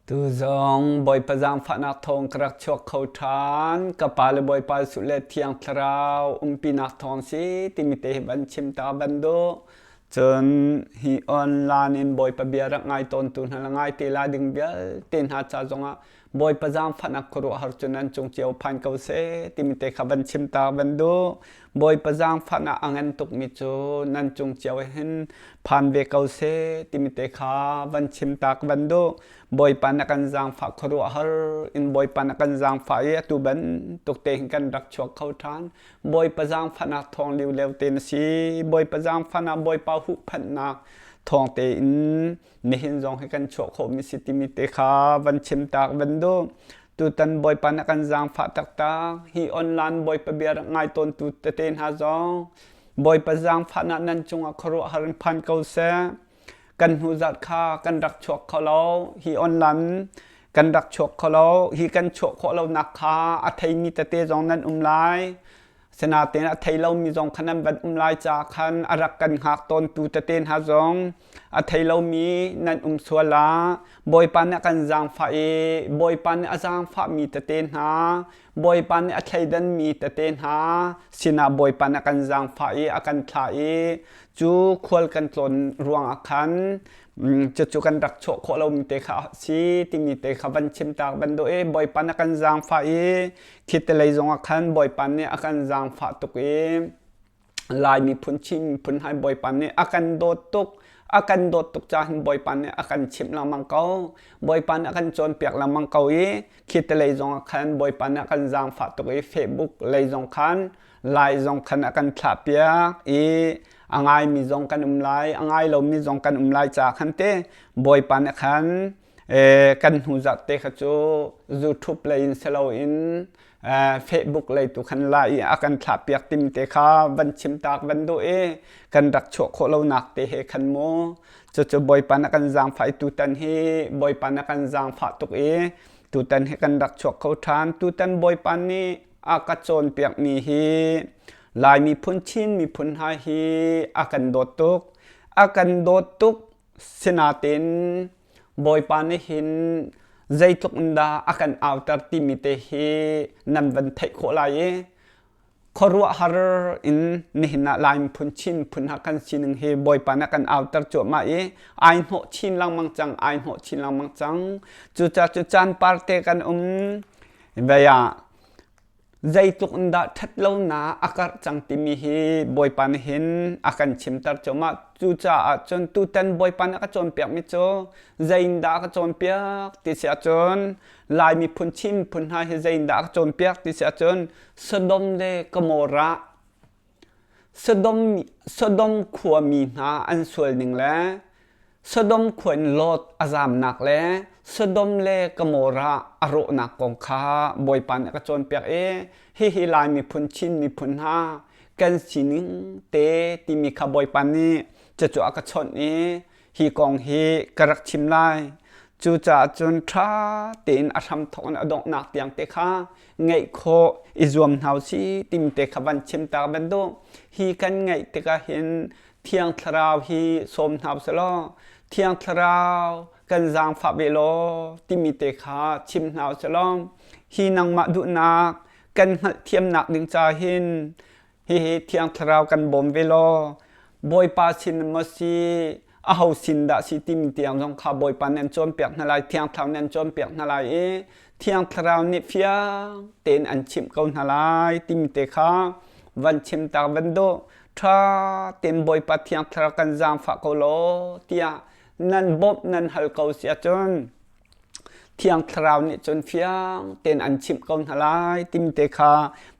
Tuzong Bawipa zaangfahnak thawng ka rak chuak kho ṭhan. Ka pa le Bawipa Jesuh le Thiang Thlarau umpinak thawng si timi te hi van chim ta van duh. Cun hi online in Bawipa bia rak ngai tawntu hna le ngai te la ding vialte hna ca zongah Bawipa zaangfahnak khuaruahhar cu nan cung cio phan ko seh timi te kha van chim ta van duh. Bawipa zaangfang ah a ngan tukmi cu nan cung cio hin phan ve ko se timi te kha van chim tak van duh Bawipa na kan zaangfah khuaruah har in Bawipa na kan zaangfah i atu ban tuk te hin kan rak chuak kho ṭhan Bawipa zaangfahnak thawng liu leu te na si Bawipa zaangfahnak Bawipa huhphanhnak thawng tein nihin zong hi kan chuah khawhmi si timi te kha van chim tak van du tutan bawipa na kan zaangfah taktak hi online bawipa bia ngai tawntu tete hna zong bawipa zaangfahnak nan cungah khuaruah har phan ko se kan hnu zat kha kan rak chuak kho lo hi online kan rak chuak kho lo hi kan chuak kho lo nak kha a theimi tete zong nan um lai Asinain a thei lomi zong khan an van um lai ca khan a rak kan hngak tawntu tete hna zong a thei lomi nan um sual ah Bawipa nih a kan zaangfah i Bawipa nih a zaangfahmi tete hna Bawipa nih a thleidanmi tete hna sinah Bawipa nih a kan zaangfah i a kan thlah i cu khual kan tlawn ruangah khan cucu kan rak chuah khawh lomi te kha a si timi te kha van chim taak van doh i Bawipa nih a kan zaangfah i Khitelei zongah khan Bawipa nih a kan zaangfah tuk i Lai miphun Chin miphun hai Bawipa nih a kan dawt tuk a kan dawt tuk caah Bawipa nih a kan chimh lengmang ko Bawipa nih a kan cawnpiak lengmang ko i khitelei zongah khan Bawipa nih a kan zaangfah tuk i Facebook lei zong khan Lai zong khan a kan thlahpiak i a ngaimi zong kan um lai a ngai lomi zong kan um lai caah khan te Bawipa nih khan kan hnu zarhte kha cu YouTube lei in si loin Facebook lei tu khan la i a kan thlahpiak tim te kha van chimtaak van duh i kan rak chuah khawh lonak te he khan mu cucu bawipa na kan zaangfah i tutan hi bawipa na kan zaangfah tuk i tutan hi kan rak chuak kho ṭhan tutan bawipa nih a ka cawnpiakmi hi lai miphun chin miphun hna hi a kan dawt tuk a kan dawt tuk Sinain Bawipa nih hin zeitluk in dah a kan auter timi te hi nan van theih khawh lai i khuaruahhar in nihin ah Lai miphun Chin miphun ha kan sining hi Bawipa nih a kan auter cuahmah i ai hnawh chin lengmang cang ai hnawh chin lengmang cang cucaah cu caan parte kan um vei ah Zeitluk in dah ṭhatlonak a karh cang timi hi Bawipa nih hin a kan chimter cuahmah. Cucaah cun tutan Bawipa nih a ka cawnpiakmi cu zeindah a ka cawnpiak ti si ahcun Lai miphun Chin miphun hna hi zeindah a ka cawnpiak ti si ahcun Sodom le Gomorrah Sodom khuami hna an sualning le Sodom khua in Lot a zamnak le Sodom le Gomorrah a rawhnak kong kha Bawipa nih a ka cawnpiak i hihi Lai miphun Chin miphun hna kan sining te timi kha Bawipa nih cucu a ka chawnh i hi kong hi ka rak chim lai cucaah cun ṭha tein a hramthawk in a donghnak tiang te kha ngaih khawh i zuam hna u si timi te kha van chim ta bantuk hi kan ngaih tikah hin thiang thlarau hi sawm hna u law thiang thlarau kan zaangfah ve law timi te kha chim hna u law hi nangmah duhnak kan hngalhthiamnak ding ca hin hihi thiang thlarau kan bawm ve law bawipa sin maw si a ho sin dah si timi tiang zong kha bawipa nan cawnpiak hna lai thiang thlarau nan cawnpiak hna lai i thiang thlarau nih fiang tein an chimh ko hna lai timi te kha van chim tak van do tha ten bawipa thiang thlarau kan zaangfah ko law tiah nan bawmh nan hal ko si ahcun Thiang Thlarau nih cun fiang tein an chimh ko hna lai timte kha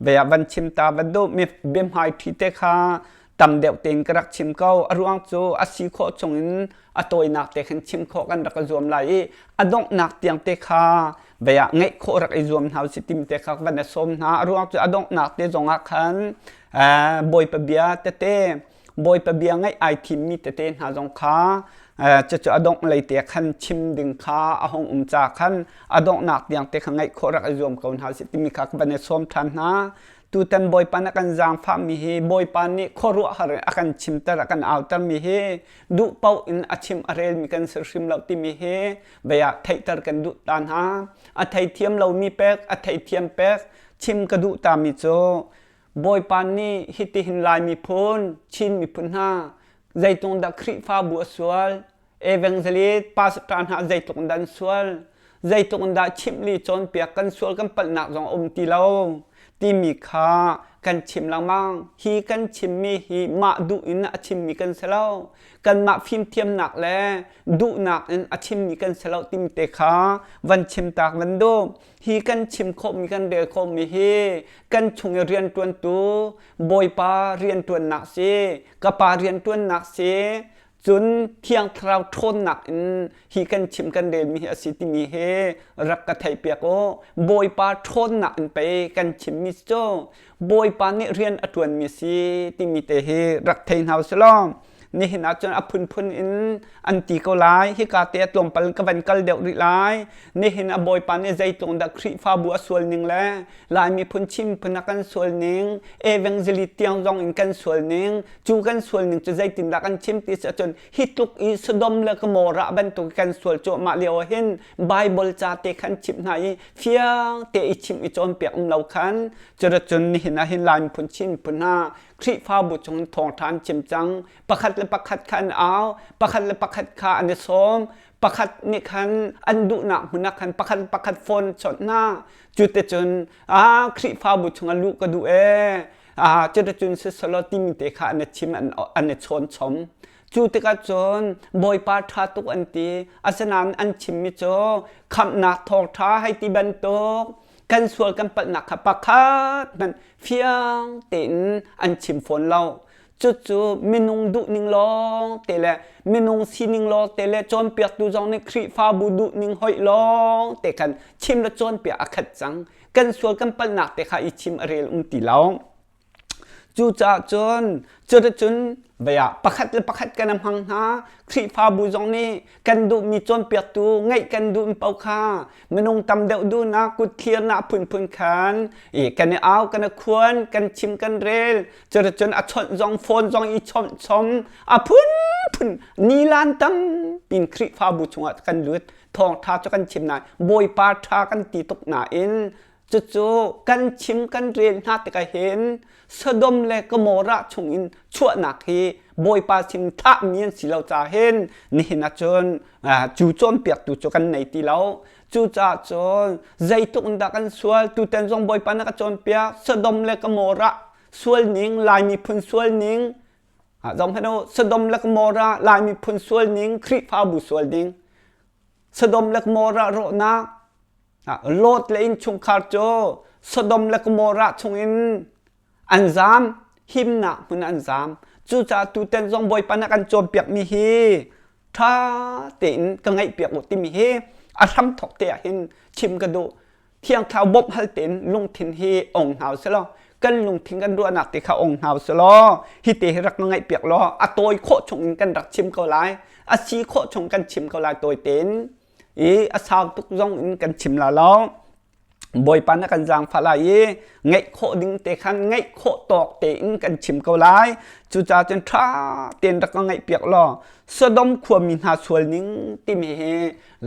bea van chim ta van do biahmai ṭhi te kha tam deuh tein ka rak chim ko a ruang cu a si khawh chungin a tawinak te khan chim khawh kan rak i zuam lai i a donghnak tiang te kha bea ngeih khawh rak i zuam hna u si timte kha van i sawm hna a ruang cu a donghnak te zongah khan Bawipa bia tete Bawipa bia ngaih ai thimmi tete hna zong kha cucu a dongh lei te khan chim ding kha a hung um ca khan a donghnak tiang te kha ngaih khawh rak i zuam ko hna sih timi kha ka van i sawm ṭhan hna. Tutan Bawipa na kan zaangfahmi hi Bawipa nih khuaruahhar in a kan chimter a kan autermi hi duh paoh in a chim a relmi kan si hrim lo timi hi bei ah theihter kan duh ta hna. A theithiam lomi pek, a theithiam pek chim ka duh tami cu Bawipa nih hitihin Laimi phun Chin miphun hna zeitlung dah Khrihfabu a sual evangelist pastor hna zeitluk in dah an sual zeitluk in dah chimhli cawnpiak kan sual kan palhnak zong a um ti lo timi kha kan chim lengmang hi kan chimmi hi mah duh in a chimmi kan si lo kanmah fimthiamnak le duhnak in a chimmi kan si lo timi te kha van chim tak van duh hi kan chim khawhmi kan rel khawhmi hi kan chung i riantuantu bawipa riantuannak si ka pa riantuannak si cun thiang thlarau ṭhawnnak in hi kan chim kan relmi hi a si timi hi rak ka theihpiak u bawipa ṭhawnnak in pei kan chimmi cu Bawipa nih rian a ṭuanmi si timi te hi rak thei hna usih law nihin ah cun a phunphun in an ti ko lai hika te tlawmpal ka van kal deuh rih lai nihin a bawipa nih zeitlung dah khrihfabu a sual ning le lai miphun chim phun a kan sual ning evangelist tiang zong in kan sual ning cu kan sual ning cu zeitin dah kan chim ti si ahcun hi tluk i sodom le gomorrah bantuk kan sual cuahmah lio ah hin Bible ca te khan chimh hna i fiang te i chim i cawnpiak um lo khan curucun nihin ah hin Lai miphun Chin miphun ha Khrihfabu chung thawng ṭhan chim cang pakhat le pakhat kha an au pakhat le pakhat kha an i sawm pakhat nih khan an duhnak hmun ah khan pakhat pakhat phone chawnh hna cuticun a Khrihfabu chung luh ka duh ee a cuticun sisolo timi te kha an i chim an i chawn chom Cu tikah cun Bawipa ṭha tuk an ti. Asinain an chimmi cu khamhnak thawngṭha hei ti bantuk kan sual kan palhnak kha pakhat hmanh fiang tein an chim fawn lo. Cucu minung duhning lawng te le minung sining lawng te le cawnpiaktu zong nih Khrihfabu duhning hoih lawng te khan chim le cawnpiak a khat cang. Kan sual kan palhnak te kha i chim a rel um ti lo. Cucaah cun cuticun beiah pakhat le pakhat kan i hmang hna. Khrihfabu zong nih kan duhmi cawnpiaktu ngeih kan duhmi paoh kha minung tam deuh duhnak kut thlirnak phunphun khan i kan i au, kan i khuan, kan chim, kan rel. Cuticun a chawnh zong phone zong i chawnh chom a phunphun nilan tampi in Khrihfabu chungah kan lut. Thawngṭha cu kan chim nain Bawipa ṭha kan ti tuk nain Cucu kan chim kan rian hna tikah hin Sodom le Gomorrah chung in chuahnak hi Bawipa sin thahmi an si lo ca hin nihin ah cun cu cawnpiaktu cu kan nei ti lo. Cucaah cun zeitluk in dah kan sual tutan zong Bawipa na ka cawnpiak Sodom le Gomorrah sual ning Lai miphun sual ning zong hmanh u Sodom le Gomorrah Lai miphun sual ning Khrihfabu sual ning Sodom le Gomorrah rawhnak Lot le innchungkhar cu Sodom le Gomorrah chungin an zaam, himnak hmun an zaam. Cucaah tutan zong Bawipa na kan cawnpiakmi hi ṭha tein ka ngaihpiak u timi hi a hramthok te ah hin chim ka duh. Thiang Thlarau bawmh hal tein lungthin hi ong hna u sih law, kan lungthin kan ruahnak te kha ong hna u sih law, hi te hi rak ka ngaihpiak law, a tawi khawh chung in kan rak chim ko lai, a si khawh chung kan chim ko lai tawi tein i a sau tuk zong in kan chim la lo bawipa na kan zaangfah lai i ngeih khawh ding te khan ngeih khawh tawk tein kan chim ko lai cucaah cun ṭha tein rak ka ngaih piak law Sodom khuami hna sual ning timi hi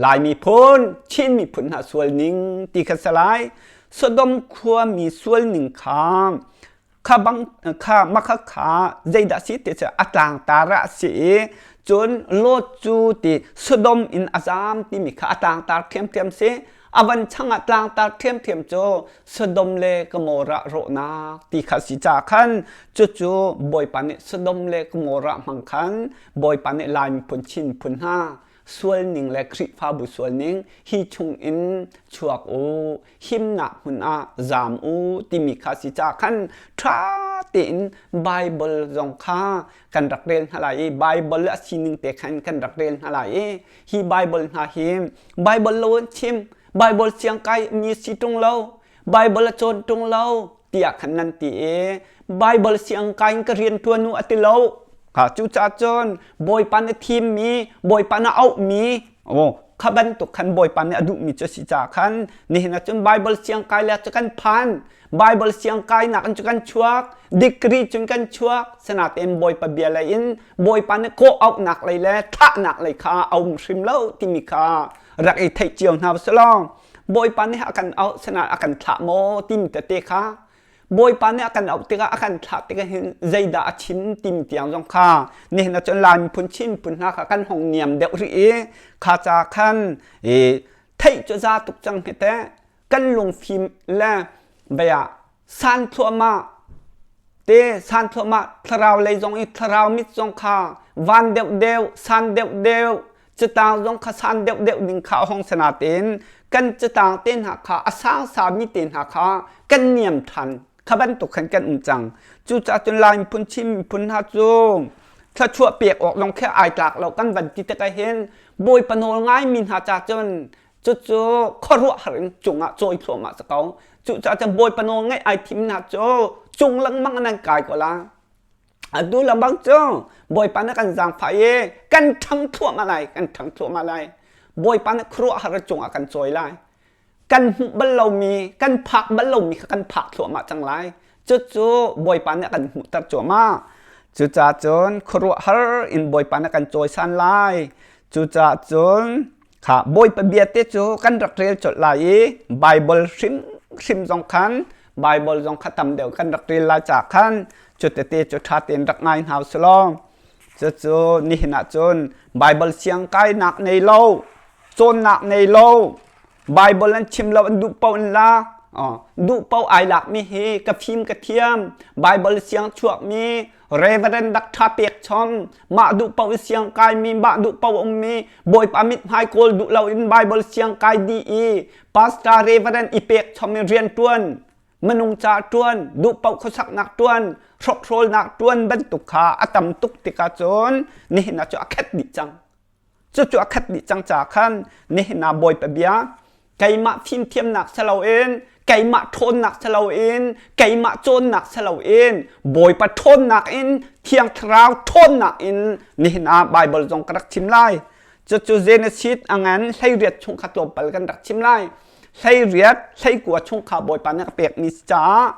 Laimi phun Chin miphun hna sual ning ti kha salai Sodom khuami sual ning kha kha bang kha makha kha zeidah si ti cu a tlang tara a si i cun lot cu ti sodom in a zam timi kha a tlang tar ṭhiamṭhiam si a van changah tlang tar ṭhiamṭhiam cu sodom le gomorrah rawhnak ti kha si ca khan cucu bawipa nih sodom le gomorrah hmang khan bawipa nih lai miphun chin phun hna sual ning le Khrihfabu sual ning hi chung in chuak u himnak hmun ah zam u timi kha si ca khan ṭha tein Bible zong kha kan rak rel hna lai i Bible a sining te khan kan rak rel hna lai i hi Bible hna hi Bible lo an chim Bible siangkai mi si ṭung lo Bible a cawn ṭung lo tiah khan nan ti i Bible siang kain ka rian ṭuan u a ti lo ka cu ca cun bawipa na thim mi bawipa na auh mi o kha bantuk khan bawipa nih a duh mi cu a si caah khan nihin ah cun Bible siang kai le cu kan phan Bible siang kai nak in cu kan chuak degree cun kan chuak sinatein bawipa bia lei in bawipa nih kawh auhnak lei le thahnak lei kha a um hrim lo timi kha rak i theih cio hna selaw Bawipa nih a kan auh sinah a kan thlah maw timi tete kha Bawipa nih a kan auh tikah a kan thlah tikah hin zeidah a chim tim tiang zong kha nihin cun Lai miphun Chin miphun hna kha kan hong niam deuh rih i kha ca khan i theih cu za tuk cang hi teh kan lungfim le bia san thluahmah te san thluahmah thlarau lei zong i thlarau mit zong kha van deuh deuh san deuh deuh cutang zong kha san deuh deuh ding kha a hong si natein kan cutang te hna kha a sang sami te hna kha kan niam ṭhan kha bantuk khan kan um cang cucaah cun lai miphun chin miphun hna cu thluachuah pek awk zong khi ai tlak lo kan van ti tik ahhin bawipa nawl ngaimi hna ca cun cucu khuaruahhar in cungah cawi thluahmah sa ko cucaah cun bawipa nawl ngaih ai thimnak cu cung lengmang nan kai ko la atu lembang cu bawipa nih kan zaangfah i kan ṭhang thluahmah lai kan ṭhang thluahmah lai bawipa nih khuaruahhar cungah kan cawi lai kan hmuh bal lomi kan phak bal lomi kha kan phak thluahmah cang lai Cucu Bawipa nih a kan hmuhter cuahmah. Cucaah cun khuaruahhar in Bawipa nih a kan cawisan lai. Cucaah cun kha Bawipa bia te cu kan rak rel colh lai i Baibal hrim hrim zong khan Baibal zong kha tam deuh kan rak rel lai ca khan cutete cu ṭha tein rak ngai hna usih law cucu nihin ah cun Baibal siangkainak nei lo, cawnnak nei lo, Bible an chim lo an duh paoh in la duh paoh ai lakmi hi ka fim ka thiam Bible siang chuakmi reverend dak tha pek chom mah duh paoh i siang kaimi mah duh paoh ummi bawipa mit hmai kawl duh lo in Bible siang kai di i pastor reverend i pek chom i rian tuan manung ca tuan duh paoh khosaknak tuan hrokhrolnak tuan bantuk kha a tam tuk tikah cun nihin a cu a khet dih cang Cucu a khat dih cang ca khan nehna Bawipa bia keimah fimthiamnak siloin keimah ṭhawnnak siloin keimah cawnnak siloin Bawipa ṭhawnnak in Thiang Thlarau ṭhawnnak in nihna Baibal zong ka rak chim lai. Cucu Genesis a ngan hleiriat chung kha tlawmpal kan rak chim lai. Hleiriat, hleikua chung kha Bawipa nih a pekmi si caah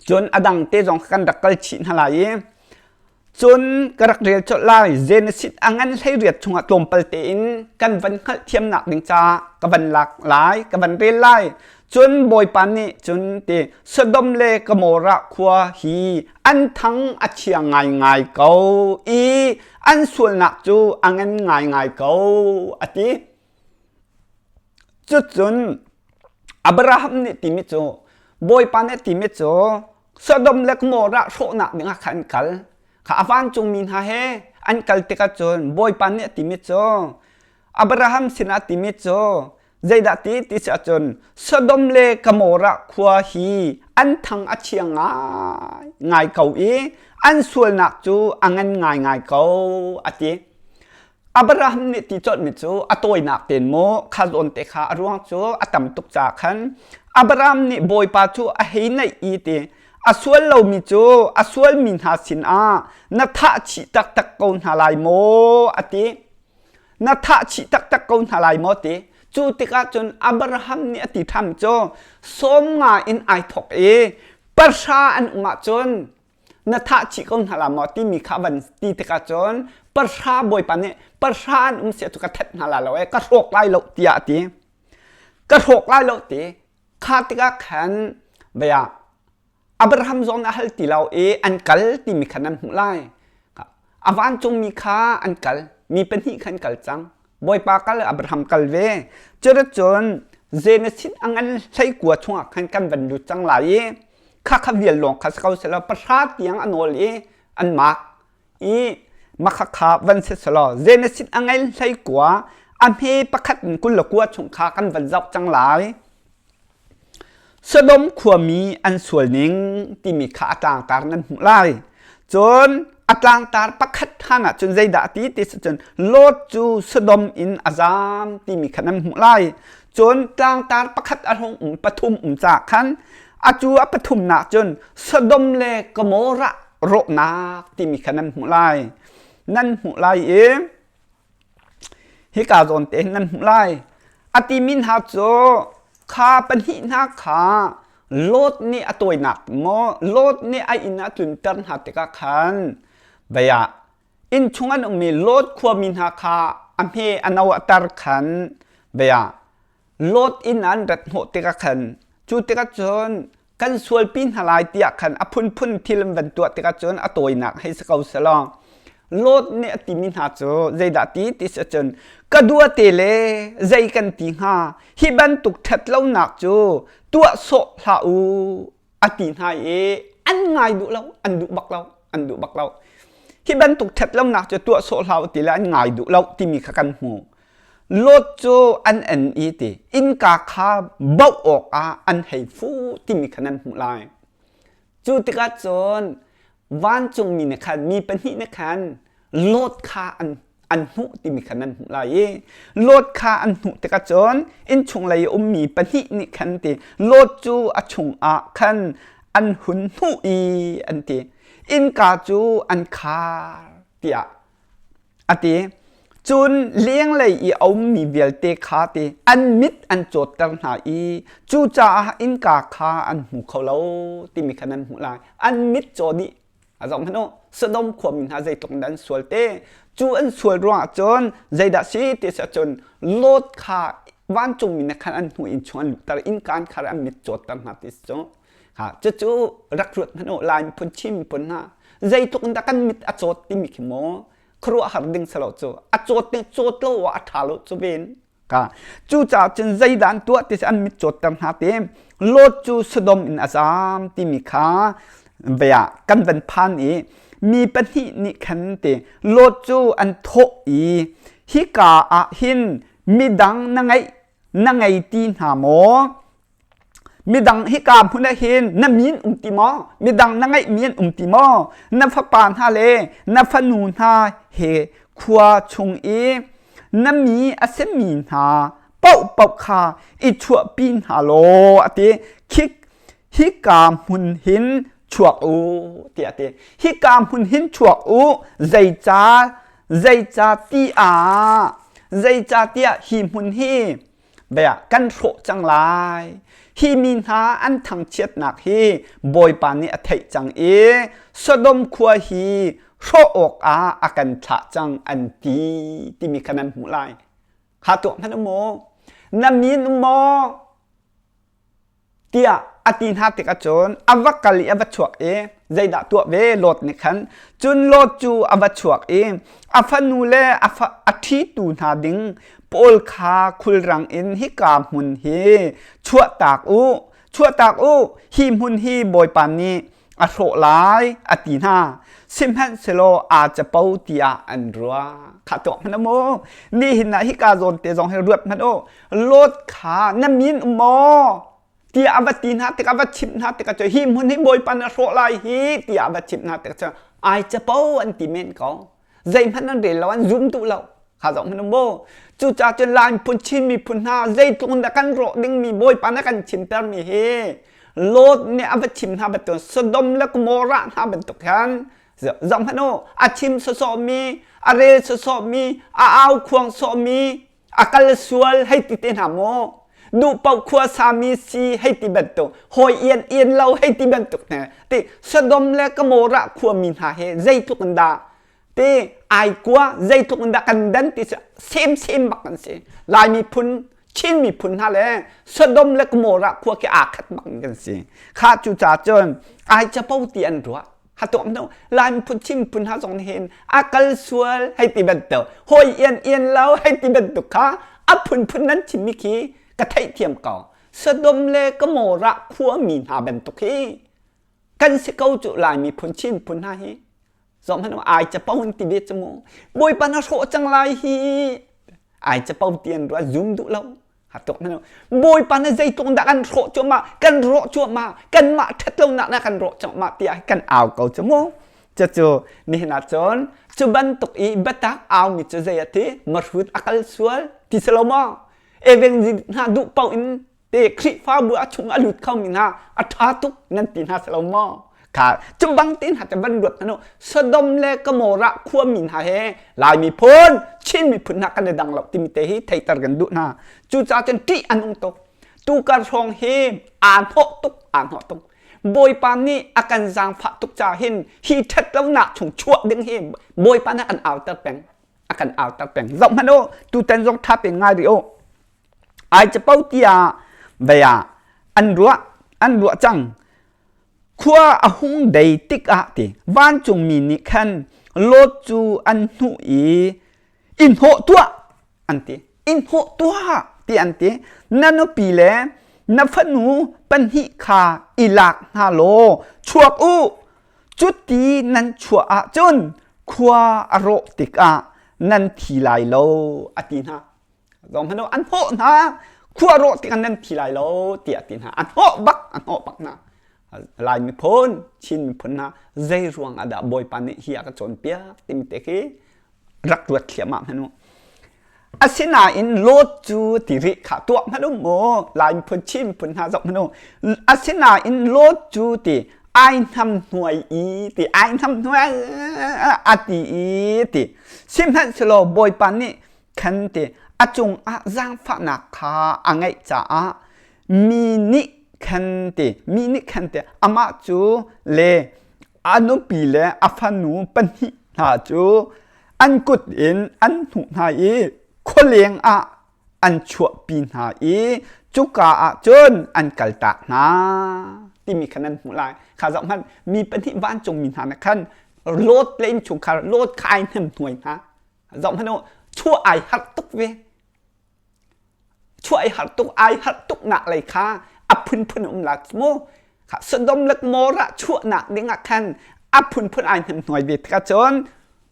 cun a dang te zong kan rak kal chih hna lai i cun ka rak rel colh lai Genesis a ngan hlei riat chungah tlawmpal tein kan van hngalh thiamnak ding ca ka van lak lai ka van rel lai cun bawipa nih cun ti Sodom le Gomorrah khua hi an thang a chia ngaingai ko i an sualnak cu a ngan ngaingai ko a ti Cucun Abraham nih timi cu Bawipa nih timi cu Sodom le Gomorrah hrawhnak dingah khan an kal. Kha a vancungmi hna he an kal tikah cun Bawipa nih timi cu Abraham sinah timi cu zeidah ti ti si ahcun Sodom le Gomorrah khua hi an thang a chia ngai ngai ko i an sualnak cu a ngan ngaingai ko a ti. Abraham nih ti chawtmi cu a tawinak ten mu kha zawn te kha a ruang cu a tam tuk ca khan Abraham nih bawipa cu a hei naih i ti a sual lomi cu a sualmi hna sinah na thah chih taktak ko hna lai maw a ti na thah chih taktak ko hna lai maw ti cu tikah cun Abraham nih a ti tham cu sawm nga in ai thawk i pahra an um ahcun na thah chih ko hna la maw timi kha van ti tikah cun parhra bawipa nih parhra an um sia tu ka that hna la lo e ka hrawk lai lo tiah ti ka hrawk lai lo ti kha tikah khan vaya abraham zong a hal ti lo i an kal timi khan an hmuh lai avan cung mi kha an kal mi pahnih khan kal cang Bawipa kal Abraham kal ve curat cun Genesis angan hlei kua chungah khan kan van lut cang lai i kha kha vial lawng kha si ko selaw pahra tiang an ol i an mak i makha kha van si selaw Genesis angan hlei kua a hme pakhat in kul le kua chung kha kan van zoh cang lai Sodom khuami an sualning timi kha a tlangtar nan hmuh lai. Cun a tlangtar pakhat hangah cun zeidah a ti ti cun Lot cu Sodom in a zaam timi kha nan hmuh lai. Cun tlangtar pakhat a hlung um pathum um cah khan a cu a pathumnak cun Sodom le Gomorrah rawhnak timi kha nan hmuh lai. Nan hmuh lai i hika zawn te nan hmuh lai a timi hna cu kha pahnih hna kha Lot nih a tawinak maw Lot nih a inn a tlunter hna tikah khan baya inn chung an ummi Lot khuami hna kha a hme a no a tar khan baya Lot inn an rat hnawh tikah khan cu tikah cun kan sualpi hna lai tiah khan a phunphun thil an van tuah tikah cun a tawinak hei si ko selaw Lot nih a timi hna cu zeidah ti ti si cun ka dua te le zei kan ti hnga hi bantuk ṭhat lonak cu tuah sawh hlah u a ti hna i an ngai duh lo an duh bak lo an duh bak lo hi bantuk ṭhat lonak cu tuah sawh hlah u ti le an ngai duh lo timi kha kan hmu Lot cu an en i ti innka kha baoh awkah an hei fu timi kha nan hmuh lai. Cu tikah cun vancungmi nih khan mi pahnih nih khan Lot kha an an hmuh timi kha nan hmuh lai i Lot kha an hmuh tikah cun innchunglei a ummi pahnih nih khan ti Lot cu a chungah khan an hun hmuh i an ti innka cu an khar tiah a ti cun lenglei i a ummi vialte kha ti an mit an cawtter hna i cucaah innka kha an hmu kho lo timi khan an hmuh lai an mit caw nih a zong hmanh u Sodom khuami hna zeitluk in an sual te cu an sual ruangah cun zeidah si ti si cun Lot kha vancungmi na khan an hnu in chung an lutter innkan kha an mit cawtter hna ti cu ha cucu rak ruat hmanh u lai phun chim pun ha zeitluk in dah kan mit a cawt timi khi maw khuruah har ding salo cu a cawt ding cawt lo ah a ṭha lo cu ven ka cu ca cun zeidan tuah ti an mit cawt ter hna te lot cu sodom in a zam timi kha vea kan van phan i mi pahnih nih khan te lot cu an thawh i hi ka ah hin midang na ngeih na ngei ti hna maw midang hika hmun ah hin na min um ti maw midang na ngeih min um ti maw na fapa hna le na fanu hna he khua chung i na mi a semi hna pauh pauh kha i chuahpi hna law ati khik hika hmun hin chuak u tiah ti hika hmun hin chuak u zeica zeica ti ah zeica tiah hi hmun hi bea kan hrawh cang lai hi mi hna an thangchiatnak hi bawipa nih a theih cang i sodom khua hi hrawh awk ah a kan thlah cang an ti timi kha nan hmuh lai kha tuah hnan u maw na min u maw tiah a ti hna tikah cun a va kal i a va chuak i zeidah tuah ve Lot nih khan cun Lot cu a va chuak i a fanu le a, fa, a ṭhitu hna ding pawl kha khulrang in hika hmun hi chuahtak u chuahtak u hi hmun hi Bawipa nih a hrawh lai a ti hna sihmanhsehlaw aa capo tiah an ruah kha tuah hmanh mu nihin ah hika zawn te zong hi ruat hmanh u lot kha na min um maw tiah a va ti hna tik a va chimh hna tikah cu hi hmun hi bawipa na hrawh lai hi tiah a va chimh hna tikah cu ai capo an ti men ko zeihmanh an rel lo an zun duh lo kha zong hmanung mu cucaah cun Lai miphun Chin miphun hna zeitluk in dah kan rawh dingmi bawipa na kan chimtermi hi Lot nih a va chim hna bantuk Sodom le Gomorrah hna bantuk khan zong hmanh u a chim sawsawhmi a rel sawsawhmi a au khuang sawhmi a kal sual hei ti te hna maw duhpaoh khua sami si hei ti bantuk hawi ian ian lo hei ti bantuk hne ti sodom le gomorrah khuami hna he zeitluk in dah ti ai kua zeitluk in dah kan dan ti cu same same bak an si lai miphun chin miphun hna le sodom le gomorrah khua ke aa khat bak in kan si kha cu ca cun ai capo ti an ruah hatu am no lan phu chim pun ha zong hin akal sual hei ti bantuk hoi ian ian lo hei ti bantuk kha a phun phun nan chim mi khi ka theih thiam ko Sodom le Gomorrah khua mi hna bantuk hi kan si ko cu lai mi phun chin phun hna hi zom hanu ai cha pon ti be chu mu boi pa na ro chang lai hi ai cha pau tian ru zum du lo ha tuk na bawipa na zeitluk dah kan rawh cuahmah kan rawh cuahmah kanmah ṭhatlonak dah kan rawh cuahmah tiah kan au ko cu mu cucu mihna cun cu bantuk i biatak aumi cu zei ati marhut akal sual ti selo mo eveng zi hna duh pau in te khrihfabu a chung a lut khomi hna a ṭha tuk nan ti hna selo mo kha cu bang tin hate ban luat nanu Sodom le Gomorrah khuami hna he Lai miphun Chin miphun hna kan le dang lo timi te hi theiter kan duh hna cu ca cun ṭih an ung tuk tu kar hrawng hi aa hnawh tuk aa hnawh tuk Bawipa nih a kan zaangfah tuk ca hin hi ṭhat lonak chung chuah ding hi Bawipa nih an auter peng a kan auter peng zoh hmanh u tutan zong ṭha pe ngai rih u ai capo tiah vaya an ruah an ruah cang khua a hung dei tikah ti vancungmi nih khan Lot cu an hnuh i i hnawh tuah an ti in hnawh tuah ti an ti na nupi le na fanu pahnih kha i lak hna law chuak u cuti nan chuah ahcun khua a rawh tikah nan thi lai lo a ti hna zohhmanh u an hnawh hna khua rawh tikan nan thi lai lo tiah ti hna an hnawh bak an hnawh bak hna lai miphun chin miphun hna zei ruang ah dah bawipa nih hi a ka cawnpiak timte khi rak ruat thliam ah hmanu asinain lot cu ti ri kha tuah hmanu mu lai miphun chin miphun hna zoh hmanu asinain lot cu ti ai nam hnuai i ti ai nam hnuai a ti i ti sihmanh selo bawipa nih khan ti a cungah zaangfahnak kha a ngeih caah mi nih khan ti mi nih khan ti amah cu le a nupi le a fanu pahnih hna cu an kut in an hnuh hna i khualeng ah an chuahpi hna i cuka ah cun an kaltak hna timi khan an hmuh lai kha zoh hmanh mi pahnih vancungmi hna nih khan Lot le inn chungkhar Lot kha ai hnemhnuai hna zong hmanh chuah ai harh tuk ve chuah ai harh tuk ai harh tuk nak lei kha a phunphun um la mu kha sodom lek mora chuah nak ding ah khan a phunphun ai hnem hnuai ve thaka chon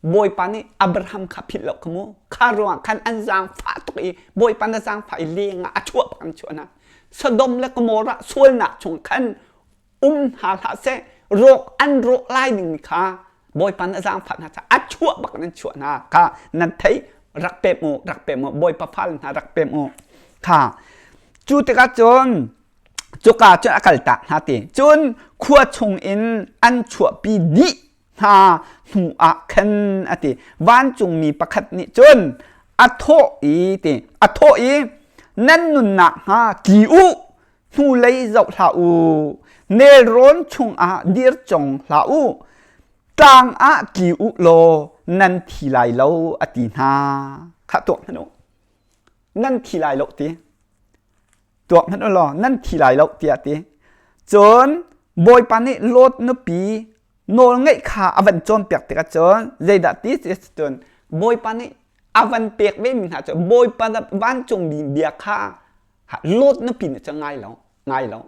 bawipa nih abraham kha philh lo kamu kha ruang khan an zang fa tuk i bawipa na zang fa i leng a chuah phang chuana sodom le gomorrah sual nak chung khan um hna hlah seh rawk an rawk lai dingmi kha bawipa na zaangfah hna caah a chuah bak nan chuah hna kha nan thei rak pem u rak pem u bawipa fal hna rak pem u kha cu tikah cun cuka cun a kaltak hna ti cun khua chung in an chuahpi dih hna hnu ah khan a ti vancungmi pakhat nih cun a thawh i ti a thawh i nan nunnak hnga tli u hnulei zoh hlah u nelrawn chungah dir cong hlah u ṭang ah tli u law nan thi lai lo a ti hna kha tuak hmanh u nan thi lai lo ti tuak hmanh u law nan thi lai lo tiah ti cun bawipa nih lot nupi nawl ngaih kha a van cawnpiak tikah cun zeidah ti cun bawipa nih a van pek ve mi hna cu bawipa vancungmi bia kha Lot na pin cu ngai lo ngai lo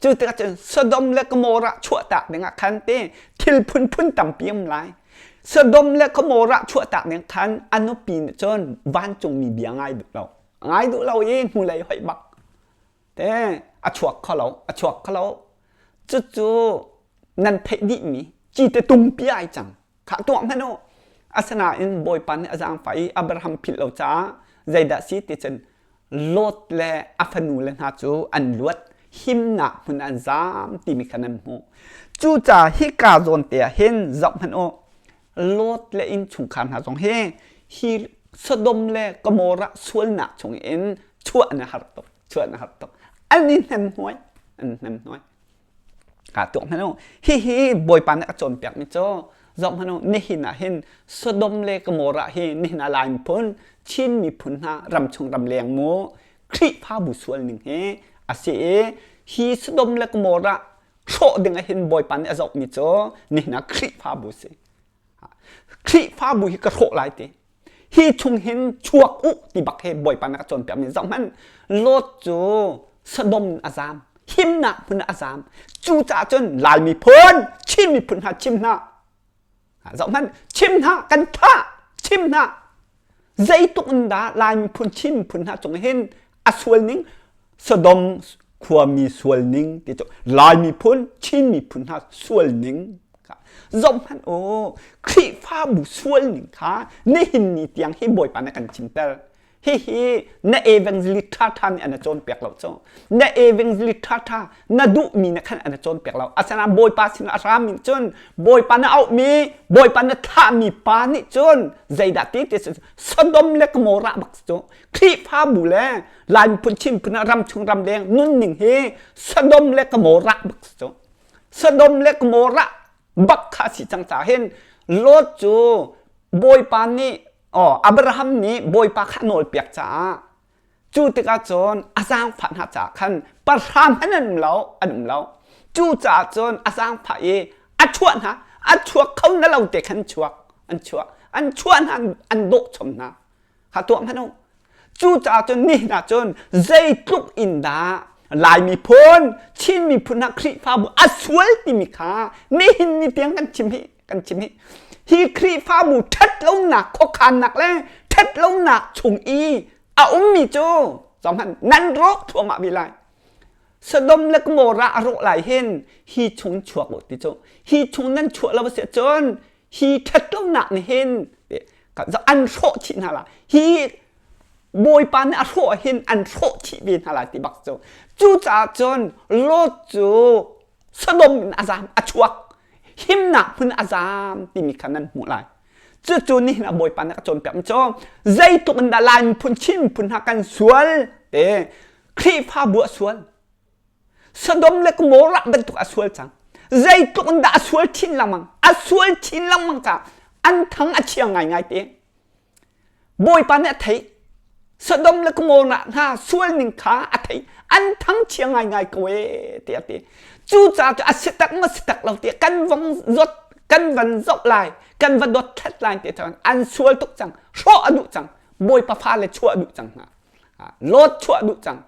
cu tikah cun Sodom le Gomorrah chuahtak dingah khan te thil phunphun tampi um lai Sodom le Gomorrah chuahtak ning khan a nupi nih cun vancungmi bia ngai duh lo ngai duh lo i hnulei hoih bak te a chuak kho lo a chuak kho lo cucu nan theih dihmi ci te tumpi ai cang kha tuah hmanh u asinain bawipa nih a zaangfah i Abraham philh lo caah zeidah si ti cun Lot le a fanu le hna cu an luat himnak hmun an zaam timi kha nan hmuh cucaah hika zawnte ah hin zoh hmanh u Lot le innchungkhar hna zong hi hi Sodom le Gomorrah sualnak chung in chuah na har tuk chuah na har tuk an i hnemhnuai an hnemhnuai ka tuk hmanu hi hi bawipa nih a cawnpiak mi cu zom hmanu nihin ah hin Sodom le Gomorrah hi nihin ah lai miphun Chin miphun hna ram chung ram leng mu Khrihfabu sual ning hi a si i hi Sodom le Gomorrah hrawh ding ah hin bawipa nih a zoh mi cu nihin ah Khrihfabu si Khrihfabu hi ka hrawh lai ti hi chung hin chuak u ti bak he bawipa na ka cawnpiak mi zoh hmanh Lot cu Sodom in a zaam himnak hmun a zaam cu caah cun Lai miphun Chin miphun hna chim hna zoh hmanh chim hna kan thah chim hna zeituk in dah Lai miphun Chin miphun hna cung hin a sual ning Sodom khuami sual ning ti cu Lai miphun Chin miphun hna sual ning zoh hmanh o Khrihfabu sual ning kha nihin ni tiang hi Bawipa na kan chinter hihi na evangelist ṭhaṭha nih an a cawnpiak lo cu na evangelist ṭhaṭha na duhmi na khan an cawnpiak lo asinain bawipa sinah a rami nih cun bawipa na auhmi bawipa na thlahmi pa nih cun zeidah ti ti Sodom le Gomorrah bak cu Khrihfabu le Lai miphun Chin miphun ah ram chung ram deng nunning hi Sodom le Gomorrah bak cu Sodom le Gomorrah bak kha si cang ca hin Lot cu bawipa nih oh Abraham nih bawipa kha nawl piak caah Cu tikah cun a zaangfah hna caah khan parhram in an um lo, an um lo. Cucaah cun a zaangfah i a chuah hna, a chuak kho na lo te khan chuak, an chuah, an chuah hna, an dawh chom hna. Ha tuah hmanh u. Cucaah cun ni hna cun zeitluk in dah Laimi phun, Chin miphun hna Khrihfabu a sual timi kha nihin ni tiang kan chim hi kan chim nih hi Khrihfabu ṭhat lonak khuakhannak le ṭhat lonak chung i a ummi cu zong nan rawk thluahmah ve lai Sodom le Gomorrah a rawh lai hin hi chung chuak u ti cu hi chung nan chuah lo si cun hi ṭhat lonak nih hin an hrawh chih hna la hi bawipa nih a hrawh hin an hrawh chih ve hna la ti bak cu cucaah cun Lot cu Sodom in a zaam a chuak himnak hmun a zaam timi kha nan hmuh lai cucu nihin a bawipa na ka cawnpiak cu zeitluk in dah lai miphun Chin miphun hna kan sual te Khrihfabu a sual Sodom le Gomorrah bantuk a sual cang zeitluk in dah a sual chin lengmang a sual chin lengmang ka an thang a chia ngaingai te Bawipa nih a theih Sodom le Gomorrah hna sual ning kha a theih an thangchia ngaingai ko e tiah ti cucaah cu a sitak ma sitak lo tiah kan vong zot kan van zoh lai kan va dot thlet lai ti thawn an sual tuk cang hrawh a duh cang bawipa fale chuah a duh cang hna lot chuah a duh cang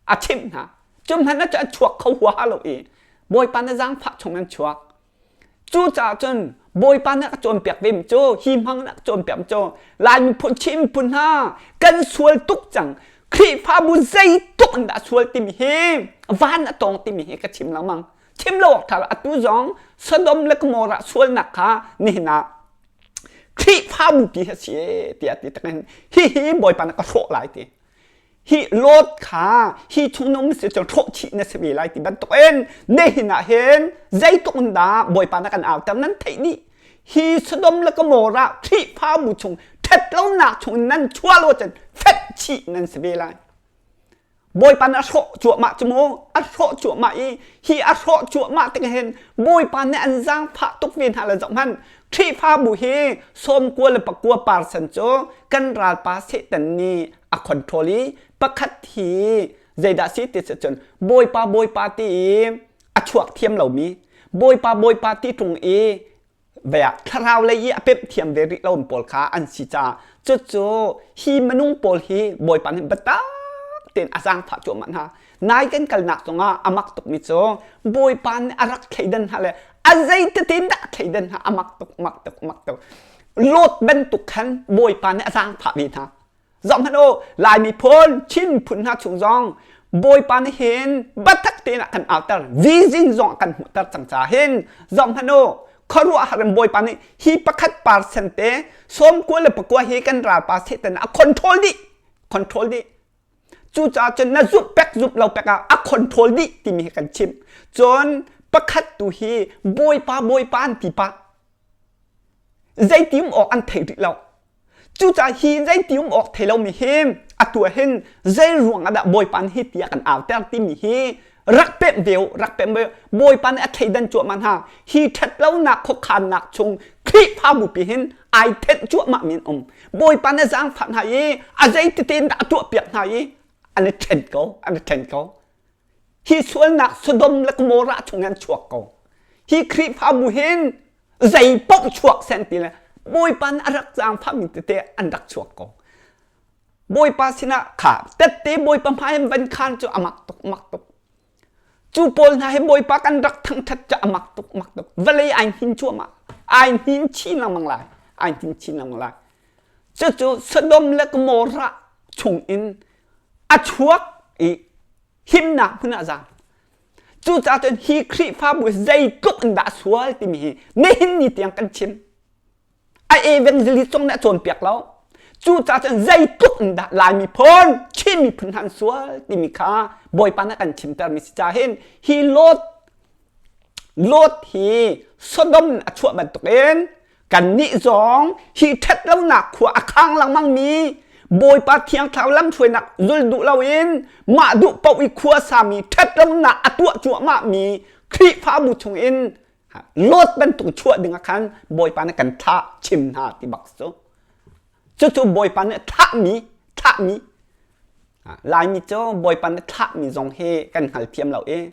a chimh hna cu hmanh cu a chuak kho huaha lo i bawipa na zaangfah chung an chuak Cucaah cun Bawipa nih a ka cawnpiak ve mi cu hi hmang nih a ka cawnpiak mi cu Lai miphun Chin miphun hna kan sual tuk cang Khrihfabu zeitluk in dah sual timi hi van a tawng timi hi ka chim lengmang chim lo awk ṭha lo atu zong Sodom le Gomorrah sualnak kha nihin ah Khrihfabu pi hi a si tiah ti tak in hihi Bawipa nih ka hrawh lai ti hi lot kha hi chungnung si cu ṭhawh chih na si ve lai ti bantukin ne hin ah hin zeitluk in dah bawipa na kan auter nan theih ni hi Sodom le Gomorrah khrihfabu chung ṭhet lonak chung in nan chualo cun fek chih nan si ve lai bawipa nih a hrawh cuahmah cu maw a hrawh cuahmah i hi a hrawh cuahmah tikah hin bawipa nih an zaangfah tuk ve hna le zoh hmanh khrihfabu hi sawmkua le pakua parsan cu kan ralpa Satan nih a control i pakhat hi zeidah si ti cun bawipa bawipa ti i a chuak thiam lomi bawipa bawipa ti tlung i vea thlarau lei i a pep thiam ve rih lo pawl kha an si ca cucu hi minung pawl hi bawipa nih biatak ten a zang phah cuahmah hna nai kan kalnak cungah a mak tukmi cu bawipa nih a rak thleidan hna le a zeitete dah thleidan hna a mak tuk mak tuk mak tuk lot bantuk khan bawipa nih a zang phah ve hna Zong hmanh u Laimi phun Chin phun hna chung zong Bawipa nih hin batak tein a kan auter vision zong a kan hmuhter cang ca hin zong hmanh u khuaruah har in Bawipa nih hi pakhat percent te sawmkua le pakua hi kan ralpa Satan a control dih control dih cucaah cun na zup pek zup lo pek ah a control dih timi hi kan chim cun pakhat tu hi Bawipa Bawipa an ti pah zeiti um awk an thei rih lo Cucaah hi in zei ti um awk thei lomi hi atu ah hin zei ruang ah dah Bawipa nih hi ti a kan auter timi hi rak pemh deu rak pemh deu Bawipa nih a thleidan cuahmah hna hi ṭhat lonak khuakhannak chung Khrihfa bupi hin ai thenh cuahmah mi an um Bawipa nih a zaangfah hna i a zei tete in dah a tuahpiak hna i an i ṭhen ko an i ṭhen ko Hi sualnak Sodom le Gomorrah chung hin chuak ko. Hi Khrihfabu hin zei paoh chuak sen ti le Bawipa nih a rak zaangfahmi tete an rak chuak ko. Bawipa sinah kha tette Bawipa hmai in van khan cu a mak tuk mak tuk. Cu pawl hna hi Bawipa kan rak thangthat cu a mak tuk mak tuk. Vale ai hin cuamah. Ai hin chin lengmang lai. Ai hin chin lengmang lai. Cucu Sodom le Gomorrah chung in a chuak i himnak hmun ah a zaam cucaah cun hi Khrihfabu zeitluk in dah a sual timi hi nihin ni tiang kan chim a evangelist zong nih a cawnpiak lo cucaah cun zeitluk in dah Lai miphun Chin miphun hna an sual timi kha Bawipa nih a kan chimtermi si ca hin hi Lot Lot hi Sodom a chuah bantukin Kannih zong hi ṭhat lonak khua a khang lengmangmi Bawipa Thiang Thlarau lamhruainak zul duh loin mah duh paoh i khua sami ṭhat lonak a tuah cuahmahmi Khrihfabu chungin load bantuk chuah dingah khan Bawipa nih kan thlah chim hna ti bak cu. Cucu Bawipa nih thlahmi thlahmi Laimi cu Bawipa nih thlahmi zong hi kan hngal thiam lo i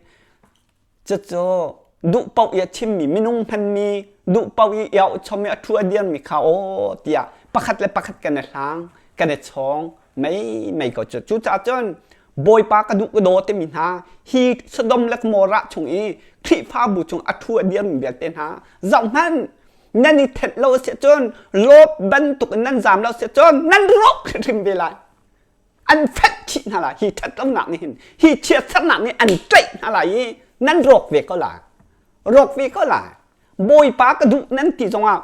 Cucu duhpaoh i a thimmi minung hmanmi duhpaoh i iauh chom i a thu a dirmi kha aw tiah pakhat le pakhat kan i hlang kan i chawng mei mei ko cu cucaah cun bawipa ka duh ka daw timi hna hi Sodom le Gomorrah chung i Khrihfabu chung a thu a dirmi vialte hna zoh hmanh nan i thenh lo a si cun Lot bantuk in nan zam lo a si cun nan rawk hrimhrim ve lai an fek khih hna lai hi ṭhatlonak nih hin hi chiatsernak nih an ṭaih hna lai i nan rawk ve ko lai rawk ve ko lai bawipa ka duh nan ti zongah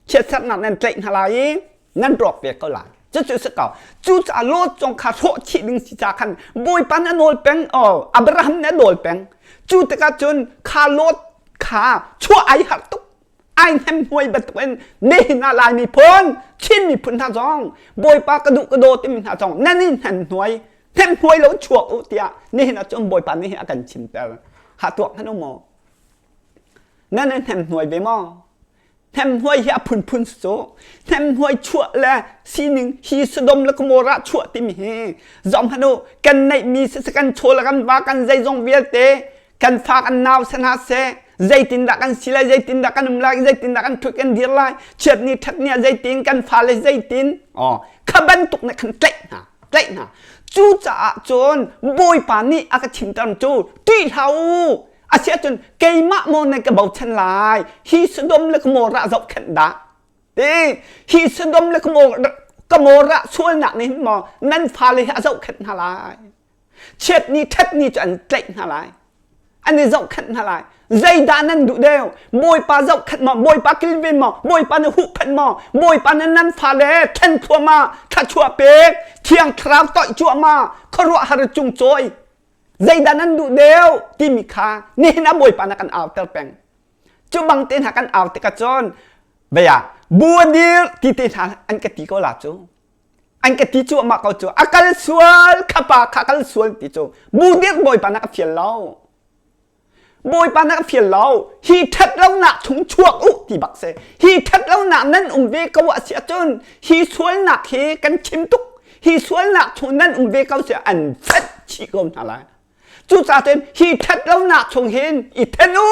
chiatsernak nan tlaih hna lai i nan rawk ve ko lai cucu si ko cucaah lot zong kha hrawh chih ding si ca khan bawipa na nawl peng o abraham na nawl peng cu tikah cun kha lot kha chuah ai harh tuk ai hnemhnuai bantukin nihin ah Laimi phun Chin miphun hna zong Bawipa ka duh ka daw timi hna zong nan in hnemhnuai hnemhnuai lo chuak u tiah nihin ahcun Bawipa nih a kan chimter ha tuak hnan u maw nan in hnemhnuai ve maw hnemhnuai hi a phunphun cu hnemhnuai chuah le sining hi Sodom le Gomorrah chuah timi hi zom hanu kan neih mi si kan chaw le kan va kan zeizong vialte kan fak an nau se hna se zeitindah kan si lai zeitindah kan um lai zeitindah kan ṭhut kan dir lai chiat ni ṭhat ni ah zeitin kan fa le zeitin oh kha bantuk nih khan tlaih hna tlaih hna cu caah cun bawipa nih a ka chimter cu ti hlau asiah cun keimah mo ne ka bochan lai hi sodom le gomorrah zohkhenh dah ti hi sodom le gomorrah sualnak nih hin maw nan fale hi a zohkhenh hna lai Chiatni ṭhatni cu an tlaih hna lai an i zohkhenh hna lai zeidah nan duh deu bawipa zohkhenh maw bawipa kilven maw bawipa na huhphenh maw bawipa na nan fale thlen thluahmah thluachuah pek thiang thlarau toih cuahmah khuaruahhar cung cawi zeidah nan duh deu timi kha nihin ah bawipa na kan auter peng cu bang te hna kan au tikah cun vea buadir ti te hna an ka ti ko la cu an ka ti cu amah ko cu a kal sual khapa kha kal sual ti cu bu dirk bawipa na ka fial lo bawipa na ka fial lo hi ṭhat lonak chung chuak u ti bak se hi ṭhat lonak nan um ve ko a si ahcun hi sualnak hi kan chim tuk hi sualnak chung nan um ve ko si an fat chih ko hna lai cucaah hi ṭhat lonak chung hin i ṭhen u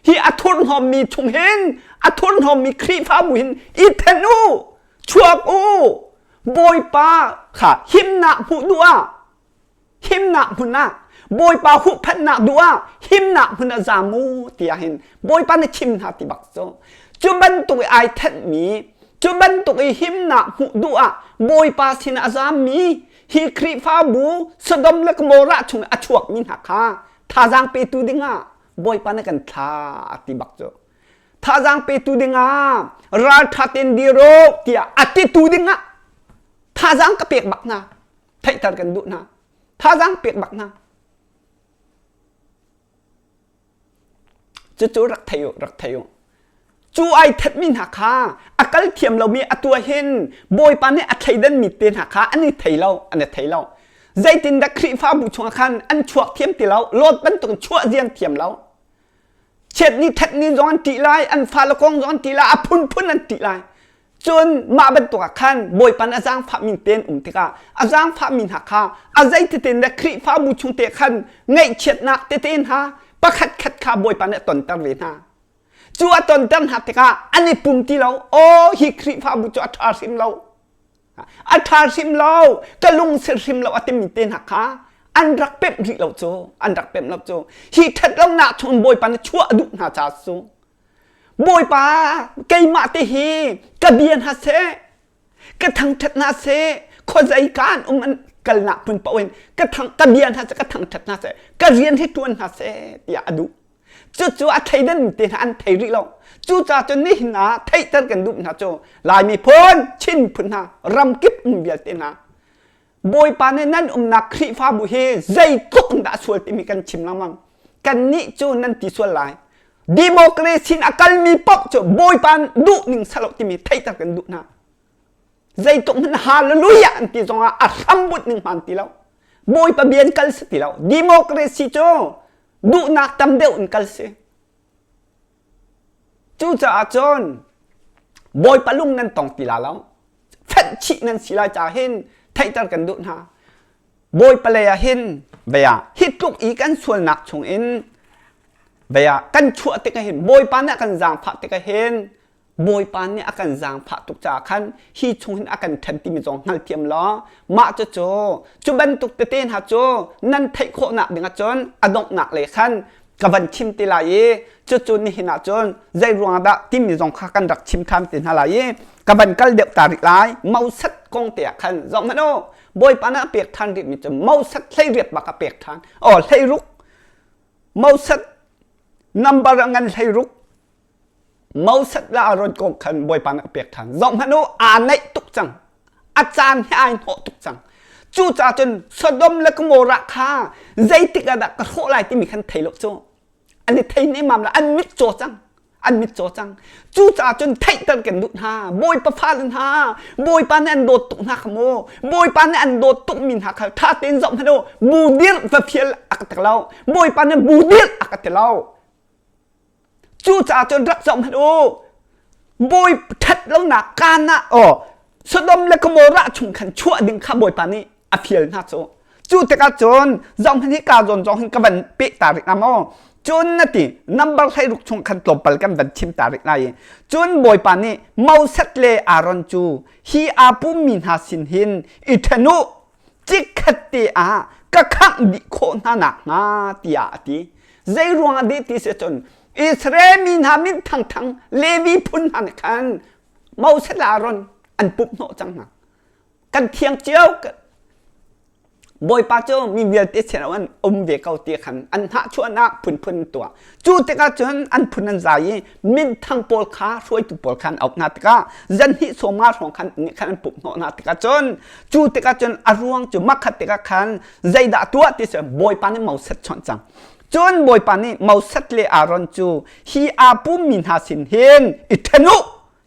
hi a thurhnawmmi chung hin a thurhnawmmi khrihfabu hin i then u chuak u bawipa kha himnak hmuh duh ah himnak hmun ah bawipa huhphenhnak duh ah himnak hmun ah zaam u tiah hin bawipa nih chim hna ti bak cu cu bantuk i ai thenhmi cu bantuk i himnak hmuh duh ah bawipa sin a zaammi hi khrihfabu sodom le gomorrah chung a chuakmi hna kha thazaang petu dingah Bawipa na kan thlak ti bak cu thazang petu dingah raltha ten diro tiah a titu dingah thazang ka pek bak hna theihter kan duh hna thazang pek bak hna cucu rak thei u rak thei u cu ai thatmi hna kha a kal thiam lomi atu ah hin bawipa nih a thleidanmi te hna kha an i thei lo an i thei lo zeitin dah Khrihfabu chungah khan an chuak thiam ti lo lot bantuk chuah zian thiam lo chiat ni that ni zong an tih lai an fale kong zong an tih lai a phunphun an tih lai cun mah bantuk ah khan bawipa nih a zaangfahmi tein um tikah a zaangfahmi hna kha a zeitetin dah Khrihfabu chung te khan ngaihchiatnak tete hna pakhat khat kha bawipa nih a tonter ve hna cu a tonternak tikah an i pum ti lo aw hi khrihfabu cu a ṭha hrim lo a ṭha hrim lo ka lungsil hrim lo a timi te hna kha an rak pemh rih lo cu an rak pemh lo cu hi ṭhat lonak chung bawipa nih chuah a duh hna ca cu bawipa keimah te hi ka bia hna seh ka thangthat na se khuazei ka an um an kalnak hmun paohin ka thang ka bia hna se ka thangthat hna se ka rian hi tuan hna se tiah a duh cucu a theidan te hna an thei rih lo cuca cu nihin ah theihter kan duh hna cu laimi phun chin phun hna ram kip um vialte hna Bawipa nih nan umnak Khrihfabu hi zeitluk in dah a sual timi kan chim lengmang. Kannih cu nan ti sual lai. Democracy in a kalmi paoh cu Bawipa duh ning salo timi theihter kan duh hna. Zeitluk hmanh hallelujah an ti zongah a hrambunh ning hman ti lo. Bawipa bia in kal si ti lo. Democracy cu duhnak tam deuh in kal si. Cucaah cun Bawipa lung nan tong ti la lo fenh chih nan si lai caah hin theihter kan duh hna Bawipa lei ah hin vea hi tluk i kan sualnak chung in vea kan chuah tikah hin Bawipa nih a kan zaangfah tikah hin Bawipa nih a kan zaangfah tuk caah khan hi chung hin a kan ṭhen timi zong hngalthiam law mah cu cu cu bantuk tete hna cu nan theih khawhnak dingah cun a donghnak lei khan ka van thim te lai i cucu nihin ah cun zei ruang dah timi zong kha kan rak chim than te hna lai i ka van kal deuh ta rih lai mosat kong te ah khan zong hmanh o bawipa na pek than rih mi cu mosat hlei riat bak a pek than o hlei ruk mosat number ngan hlei ruk Moses le Aaron kong khan Bawipa nih a pek ṭhan. Zohhmanh u, aa naih tuk cang. A caan hi ai hnawh tuk cang. Cucaah cun Sodom le Gomorrah kha zeitik ah dah ka hrawh lai timi khan thei lo cu. An i thei nemam lo. An mitcaw cang. An mitcaw cang. Cucaah cun theihter kan duh hna. Bawipa fale hna, Bawipa nih an dawt tuk hna kha maw? Bawipa nih an dawt tukmi hna kha ṭha tein zohhmanh u. Bu dirh va fial a ka ti lo. Bawipa nih bu dirh a ka ti lo. Cucaah cun rak zoh hmanh u bawi ṭhat lonak kaan ah aw Sodom le Gomorrah chung khan chuah ding kha Bawipa nih a fial hna cu cu tikah cun zoh hmanh hi kaa zawn zong hin ka van peh ta rih hnga maw cun na ti nambar hleiruk chung khan tlawmpal kan van chim ta rih lai i cun Bawipa nih Moses le Aaron cu hi aa pummi hna sin hin i ṭhen u Cikhat te ah ka khangh dih khawh hna nakhnga tiah a ti. Zei ruangah deh ti si cun Israel mi hna min thangthang Levi phun hna nih khan Moses le Aaron an pumh hnawh cang hna. Kan thiang cio Bawipa cu mi vialte sin an um ve ko ti khan an hnahchuahnak phunphun an tuah. Cu tikah cun an phun an zai i minthang pawl kha hruaitu pawl kha an auh hna tikah zanhnih sawma hrawng khan khan an pumh hnawh hna tikah cun cu tikah cun a ruang cu makhat tikah khan zeidah tuah ti si bawipa nih mosat chonh cang cun bawipa nih mosat le aaron cu hi aa pummi hna sin hin i ṭhen u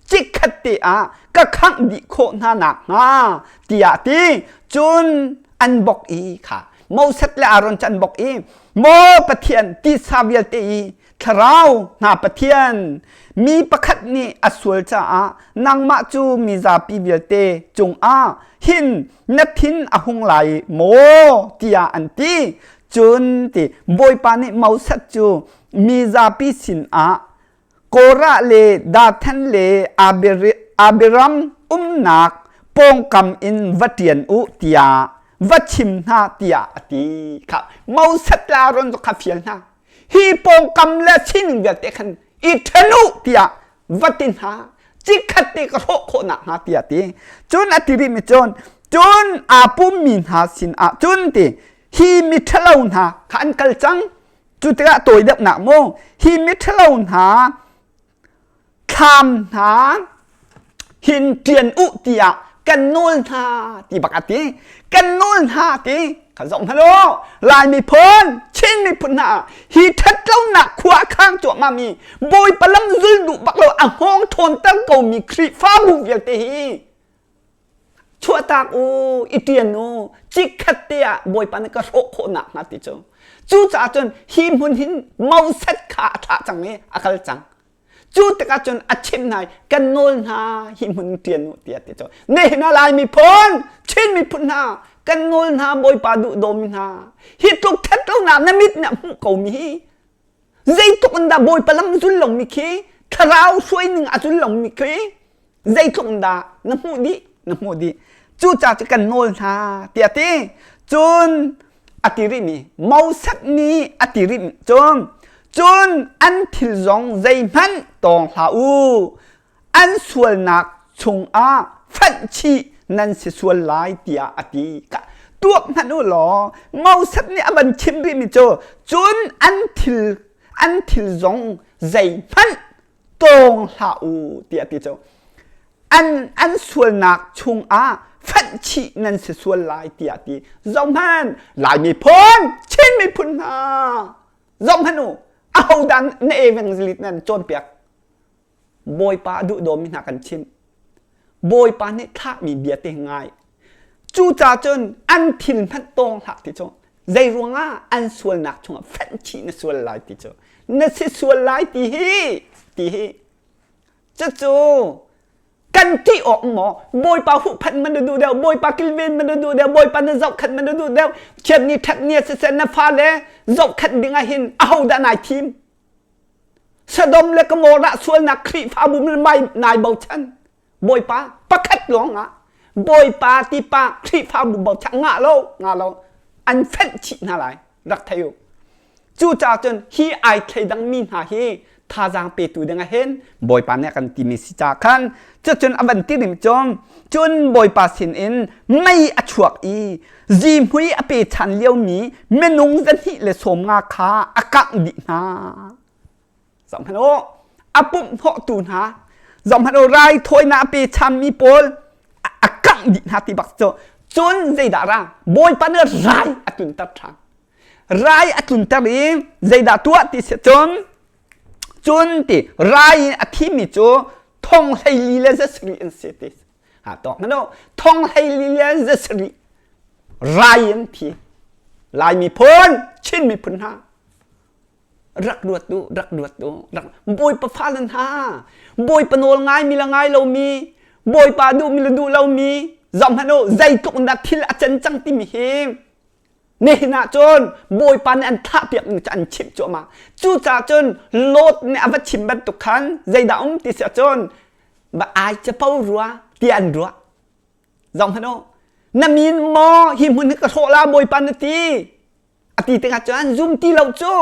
cikhat te ah ka khangh dih khawh hna nak hnga tiah ti cun an bok i kha mosat le aaron cu an bok i maw pathian tisa vialte i thlarau hna pathian mi pakhat nih a sual caah nangmah cu mi zapi vialte cungah hin na thin a hung lai maw tiah an ti cun ti bawipa nih mosat cu mi zapi sinah Korah le Dathan le Abiram umnak pawngkam in va ṭian u tiah va chim hna tiah a ti kha Moses le Aaron cu kha fial hna hi pawngkam le sining vialte khan i ṭhen u tiah va ti hna cikhat te ka hrawh khawh nak hnga tiah ti cun a ti rih mi cun cun aa pummi hna sinah cun ti hi miṭhalo hna kha an kal cang cu tikah tawi deuh nak mu hi miṭhalo hna Thlam hna hin ṭian u tiah kan nawl hna ti bak a ti. Kan nawl hna ti kan zoh hna law Lai miphun, Chin miphun hna hi ṭhatlonak khua a khang cuahmahmi Bawipa lam zul duh bak lo a hngawng ṭhawnter komi Khrihfabu vialte hi chuahtak u i ṭian u chikkhat te ah bawipa na ka hrawh khawh nak hnga ti cu cucaah cun hi hmun hin moset kha a thlah cang i a kal cang cu tikah cun a chimh hna i kan nawl hna hi hmun ṭian u tiah ti cu nihin ah lai miphun Chin miphun hna kan nawl hna bawipa duhdawmi hna hi tluk ṭhatlonak na mit nih a hmuh ko mi hi zeitluk in dah Bawipa lam zul lomi khi thlarau hruai ning a zul lomi khi zeitluk in dah na hmuh dih na hmuh dih cuca cu kan nawl hna tiah ti cun a ti rihmi Moses nih a ti rih cun cun an thil zong zeihmanh tawng hlah u an sualnak chungah fanh chih nan si sual lai tiah a ti tuak hmanh u law Moses nih a van chim rihmi cu cun an thil an thil zong zeihmanh tawng hlah u tiah ti cu an an sualnak chungah fanh chih nan si sual lai tiah ti zong hman lai miphun chin miphun hna zong hmanu ahodan na evangelist nan cawnpiak Bawipa a duhdawmi hna kan chimh. Bawipa nih thlahmi bia te ngai. Cucacun an thil hmanh tawng hlah ti cu zei ruangah an sualnak chungah fenchih na sual lai ti cu na si sual lai ti hi ti hi cucu kan ṭih awk maw bawipa huhphat man na duh deuh bawipa kilven man na duh deuh bawipa na zohkhat man na duh deuh thian ni ṭhat ni siseh na fale zohkhat dingah hin ahodah nai thim Sodom le Gomorrah sualnak Khrihfabu min mai nai bochan Bawipa pakhat lawngah Bawipa tipa Khrihfabu bochan nga lo nga lo an fenh chih hna lai rak thei u cucaah cun hi ai thleidang mi hna hi thazaang petu dingah hin Bawipa nih a kan timi si ca khan cucun a van ti dim cawm cun bawipa sin in mei a chuak i zihmui a pe than lio mi minung zahnih le sawm nga kha a kangh dih hna zoh hmanh u a pumh hnawhtu hna zoh hmanh u raithawinak a pe cham mi pawl a kangh dih hna ti bak cu cun zeidah ra bawipa nih rai a tlunter than rai a tlunter i zeidah tuah ti si cun cun ti rai in a thimi cu thong hleili le zasri an si ti ha tawk na no thong hleili le zasri rai in thi lai mi phun chin mi phun ha rak ruat tu rak ruat tu rak boi pa fa lan ha boi pa nol ngai mi la ngai lo mi boi pa du mi la du lo mi zong hano zeitluk na thil a chen cang ti mi him Ne hnah cun Bawipa nih an thlahpiak ning cu an chimh cuahmah. Cucaah cun Lot nih a va chim bantuk khan zeidah um ti si cun ba ai capo rua tiah an ruah. Zong hmanh u, na min maw hi hmun hi ka hrawh la Bawipa na ti a ti tikah cun an zum ti lo cu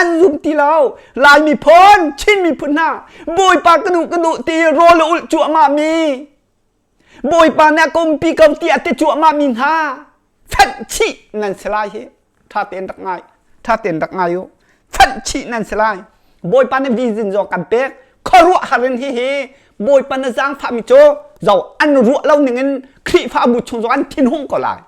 an zum ti lo Lai miphun Chin miphun hna Bawipa ka duh ka duh ti rawl a ulh cuahmah mi Bawipa nih a kompi ko tiah ti cuahmah mi hna fat chih nan si lai hi ṭha tein rak ngai ṭha tein rak ngai u fat chih nan si lai Bawipa nih vision zo kan pek khuaruah har in hihi Bawipa na zaangfahmi cu zo an ruah lo ning in Khrihfabu chung zong an thinhung ko lai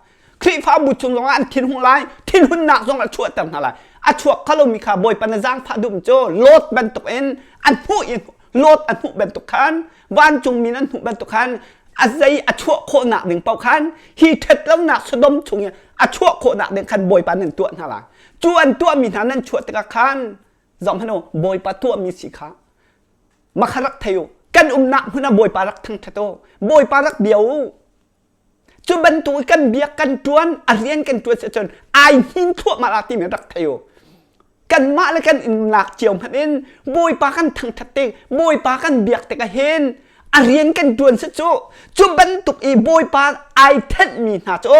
Khrihfabu chung zongah an thinhung lai, thinhunnak zong a chuahter hna lai. A chuak kha lomi kha Bawipa na zaangfah dum cu Lot bantukin an hmuh i Lot an hmuh bantuk khan vancungmi nan hmuh bantuk khan a zei a chuah khawhnak ding paoh khan hi ṭhatlonak Sodom chung i a chuah khawhnak ding khan Bawipa nan tuah hna lai. Cu an tuahmi hna nan chuah tikah khan zohhmanh u Bawipa tuahmi si kha makha rak thei u. Kan umnak hmun ah Bawipa rak thangṭhat u. Bawipa rak bia u. Cu bantuk i kan biak kan tuan a rian kan tuan ahcun ai hnin thluahmah la timi rak thei u kanmah le kan in lak cio hmanh in bawipa kan thangthat te bawipa kan biak tik a hen a rian kan tuan si cu cu bantuk i bawipa ai thenmi hna cu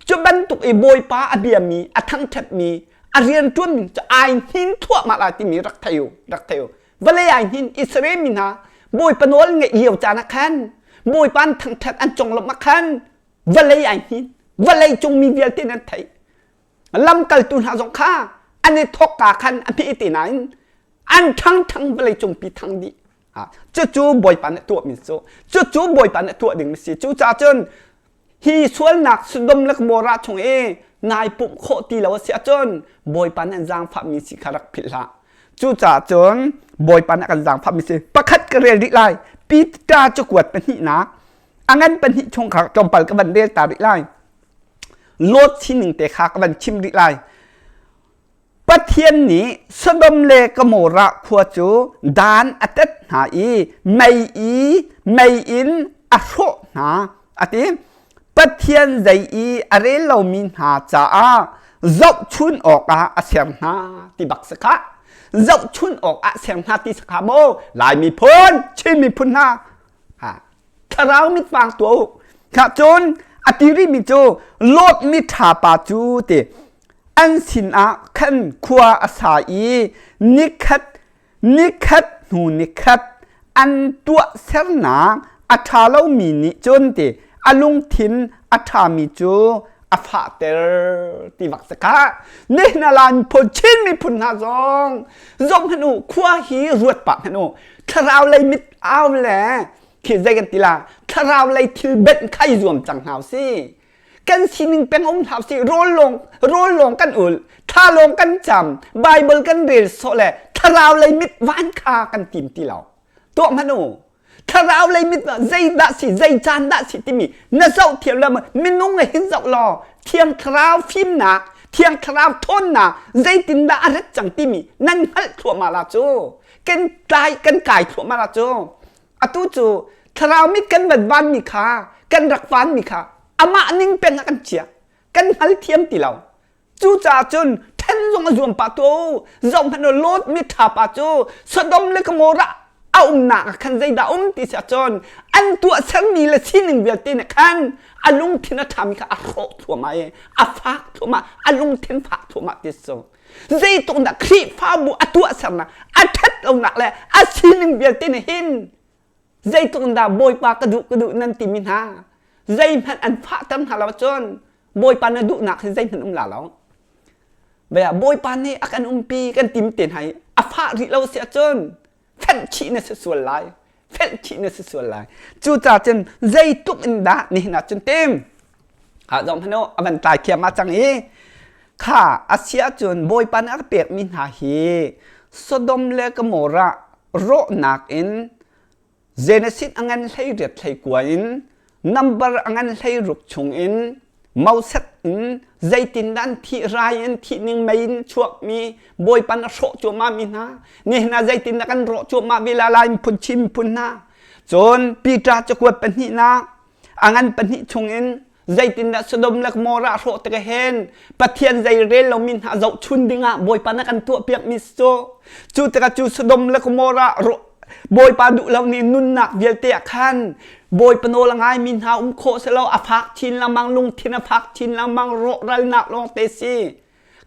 cu bantuk i bawipa a biami a thangthatmi a rian tuan ning cu ai hnin thluahmah la timi rak thei u rak thei u vale ai hnin Israel mi hna bawipa nawl nge iau caan ah khan bawipa an thangthat an conglawmh ah khan vale ai hnin vale cung mi vialte nan thei lamkaltu hna zong kha an i thawk ka khan a phi ti nain an thang thang vale cung pi thang dih ha cucu bawipa nih tuah mi cu cucu bawipa nih tuah ding mi si cu ca cun hi sualnak Sodom le Gomorrah chung i nai pumh khawh ti lo a si ahcun Bawipa nih an zaangfahmi si kha rak philh hlah. Cucaah cun Bawipa nih a kan zaangfahmi si pakhat ka rel rih lai Peter cu kuat pahnihnak a ngan pahnih chung kha tlawmpal ka van rel ta rih lai. Lot sining te kha ka van chim rih lai. Pathian nih Sodom le Gomorrah khua cu dan a tet hna i mei i mei in a hrawh hna, a ti. Pathian zei i a rel lomi hna caah zohchun awkah a ser hna ti bak si khah. Zohchun awkah ser hna ti si khah maw? Lai miphun, Chin miphun hna, ha, thlarau mit hmang tuah u. Kha cun a ti rimi cu Lot mi ṭhapa cu ti an sinah khan khua a sa i nikhat nikhat hnu nikhat an tuahsernak a ṭha lomi nih cun ti a lungthin a ṭhami cu a fahter ti bak si ka nehnalan phun chin miphun hna zong zong hnu khua hi ruat pa hnu thlarau lei mit au le khi zeikan tila thlarau lei thil benh khai zuam cang hau si kan sining peng um hlah sih rawl lawng rawl lawng kan ul tha lawng kan cam bible kan rel so le thlarau lei mit van kha kan tim ti lo to manu thlarau lei mit zei da si zei chan da si timi na zoh thiam la minung hin zoh law thiang thlarau fimnak thiang thlarau thawnnak zeitin da a rat cang timi nan hngalh thua ma la cu kan kai kan kai thua ma la cu atu cu thlarau mit kan van vanmi kha kan rak vanmi kha amah ning peng ah kan chia kan hngal thiam ti lo cucaah cun then zong a zuam pa tu zoh hmanh u Lot mitha pa cu Sodom le Gomorrah a umnak ah khan zeidah um ti si cun an tuah sermi le sining vialte nih khan a lungthin a ṭhami kha a hrawh thluamah i a fak thluamah a lungthin fak thluamah ti si zeituk dah khrihfabu a tuahsernak a ṭhat lonak le a sining vialte nih hin zeitluk in dah bawipa ka duh ka duh nan timi hna zeihmanh an fahter hna lo cun bawipa na duhnak hi zeihmanh um la lo baya bawipa nih a kan umpi kan tim te hna i a fah rih lo si ahcun fenh chih na si sual lai fenh chih na si sual lai cu ca cun zeitluk in dah nihin ah cun tim ha zong hano avan tlai thiam ma cang i kha asia cun bawipa nih a pek mi hna hi sodom le gomorrah rawhnak in genesis angan hlei riat hlei kuan in Nambar a ngan hlei ruk chungin moset in zeitindan thih rai in thih ning mei in chuakmi bawipan a hrawh cuahmah mi hna nihna zeitin na kan rawh cuahmah vi la lai phun chim phun hna cun Peter cakuat pahnihnak a ngan pahnih chungin zeitindah Sodom le Gomorrah hrawh te hen pathian zei rel lomi hna zoh chun dingah bawipa na kan tuah piak mi cu cu teka cu Sodom le Gomorrah rawh Bawipa duh lo ni nunnak vialte ah khan Bawipa nawl a ngai mi hna um khawh selaw a fak chin lengmang lungthin a fak chin lengmang rawhralnak lawng te si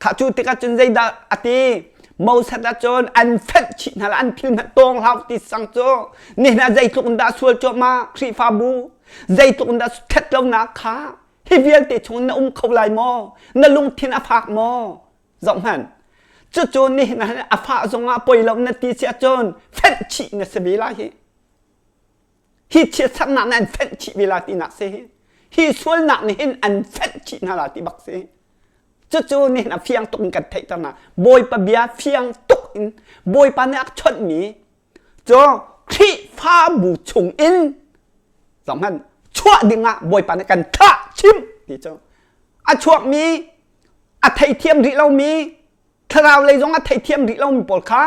kha cu tikah cun zeidah a ti Moses cun an fenh chih hna la an thil hna tawng hlau ti sang cu nihin ah zeitluk in dah sual cuahmah Khrihfabu zeitluk in dah ṭhat lonak kha hi vialte chung na um kho lai maw na lungthin a fak maw zohhmanh cucu ni na a fah zongah poi lo na ti sia cun fenh chih na si ve lai hi hi chia saknak nih an fenh chih ve la ti nak se hi hi sualnak nih hin an fenh chih hna la ti bak se cucu ni na fiang tuk in kan theihter na bawipa bia fiang tuk in bawipa nih a chawnh mi Cu Khrihfabu chungin zohhmanh chuah dingah Bawipa nih kan thah chim ti cu a chuakmi a theithiam rih lomi thlarau lei zong a theithiam rih lomi pawl kha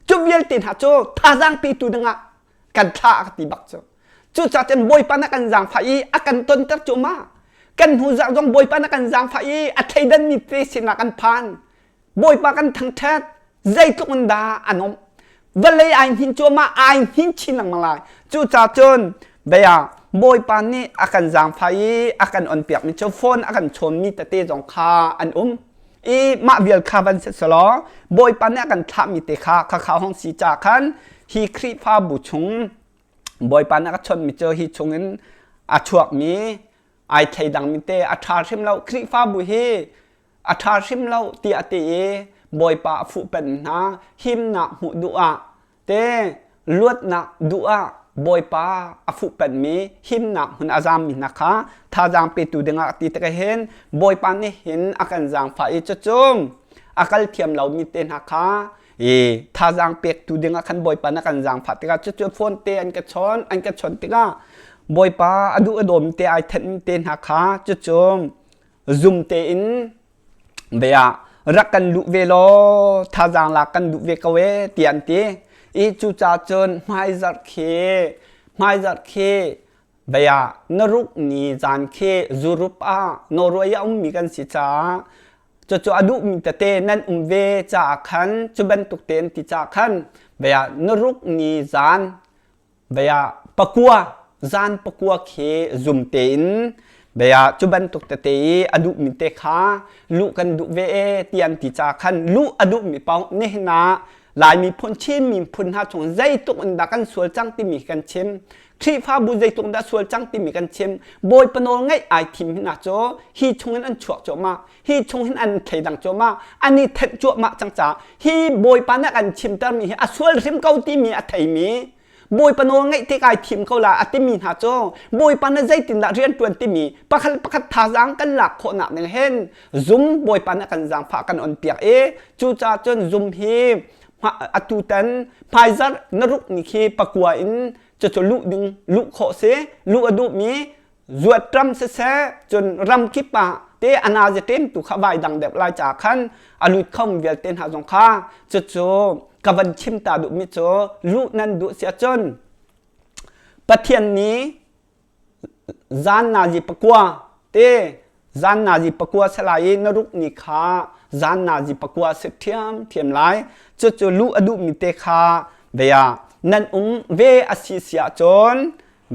cu vialte hna cu thazaang petu dingah kan thlah a ka ti bak cu cucaah cun Bawipa na kan zaangfah i a kan tonter cu ma kan hnu zarh zong Bawipa na kan zaangfah i a thleidanmi te sinah kan phan Bawipa kan thangṭhat zeitluk in dah an um vale ai hnin cuahmah ai hnin chin lengmang lai cucaah cun baya Bawipa nih a kan zaangfai i a kan onpiakmi cu phone a kan chawnmi tete zong kha an um i mah vial kha van si selaw Bawipa nih a kan thlahmi te kha khakha hong si ca khan hi Khrihfabu chung Bawipa nih a ka chawnmi cu hi chungin a chuakmi ai thei dangmi te a ṭha hrim lo Khrihfabu hi a ṭha hrim lo tiah a ti i Bawipa a fuhpanh hna himnak hmuh duh ah te luatnak duh ah Bawipa a fuhpanhmi himnak hmun a zammi hna kha thazaang petu dingah a ti tikah hin Bawipa nih hin a kan zaangfah i cucung a kal thiam lomi te hna kha i thazaang pektu dingah khan Bawipa nih a kan zaangfah tikah cucu fawn te an ka chawn an ka chawn tikah Bawipa a duh a dawm te ai thenmi te hna kha cucung zumte in bea rak kan luh ve law thazang la kan luh ve ko e ti an ti i cu ca cun hmaizarh khi hmaizarh khi bea na ruk ni zan khi zurup ah noroi a ummi kan si caah cucu a duhmi tete nan um ve caah khan cu bantuk te an ti caah khan bea na ruk ni zan baya pakua zan pakua khi zumte in baya cu bantuk tete i a duh mi te kha luh kan duh ve e ti an ti ca khan luh a duh mi paoh nihin ah laimi phun chin mi phun hna chung zeituk in dah kan sual cang timi kan chim Khrihfabu zeituk dah sual cang timi kan chim bawi panawl ngeih ai thim hina cu hi chungin an chuak cuahmah hi chung hin an thleidang cuahmah an i thenh cuahmah cang ca hi bawipa nih kan chimtermi hi a sual hrim ko timi a theimi bawipa nawl ngaih te kai thim ko la a timi hna cu bawipa nih zeitindah riantuan timi pakhat pakhat thazaang kan lak khawhnak ning hen zum bawipa nih kan zaangfah kan on piak i cucaah cun zum hi atu tan phaizar na ruk ni khi pakua in cucu luh ding luh khawh si luh a duhmi zuat ram siseh cun ram kip ah te anazi tem tu kha vai dang dep lai cha khan alut khom vialte hna zong kha cu cu ka van chim ta duh mi cu lu nan duh sia cun pathian ni zan nazi pakua te zan nazi pakua salai i na ruk ni kha zan nazi pakua se thiam thiam lai cu cu lu adu mi te kha veya nan um ve asi sia cun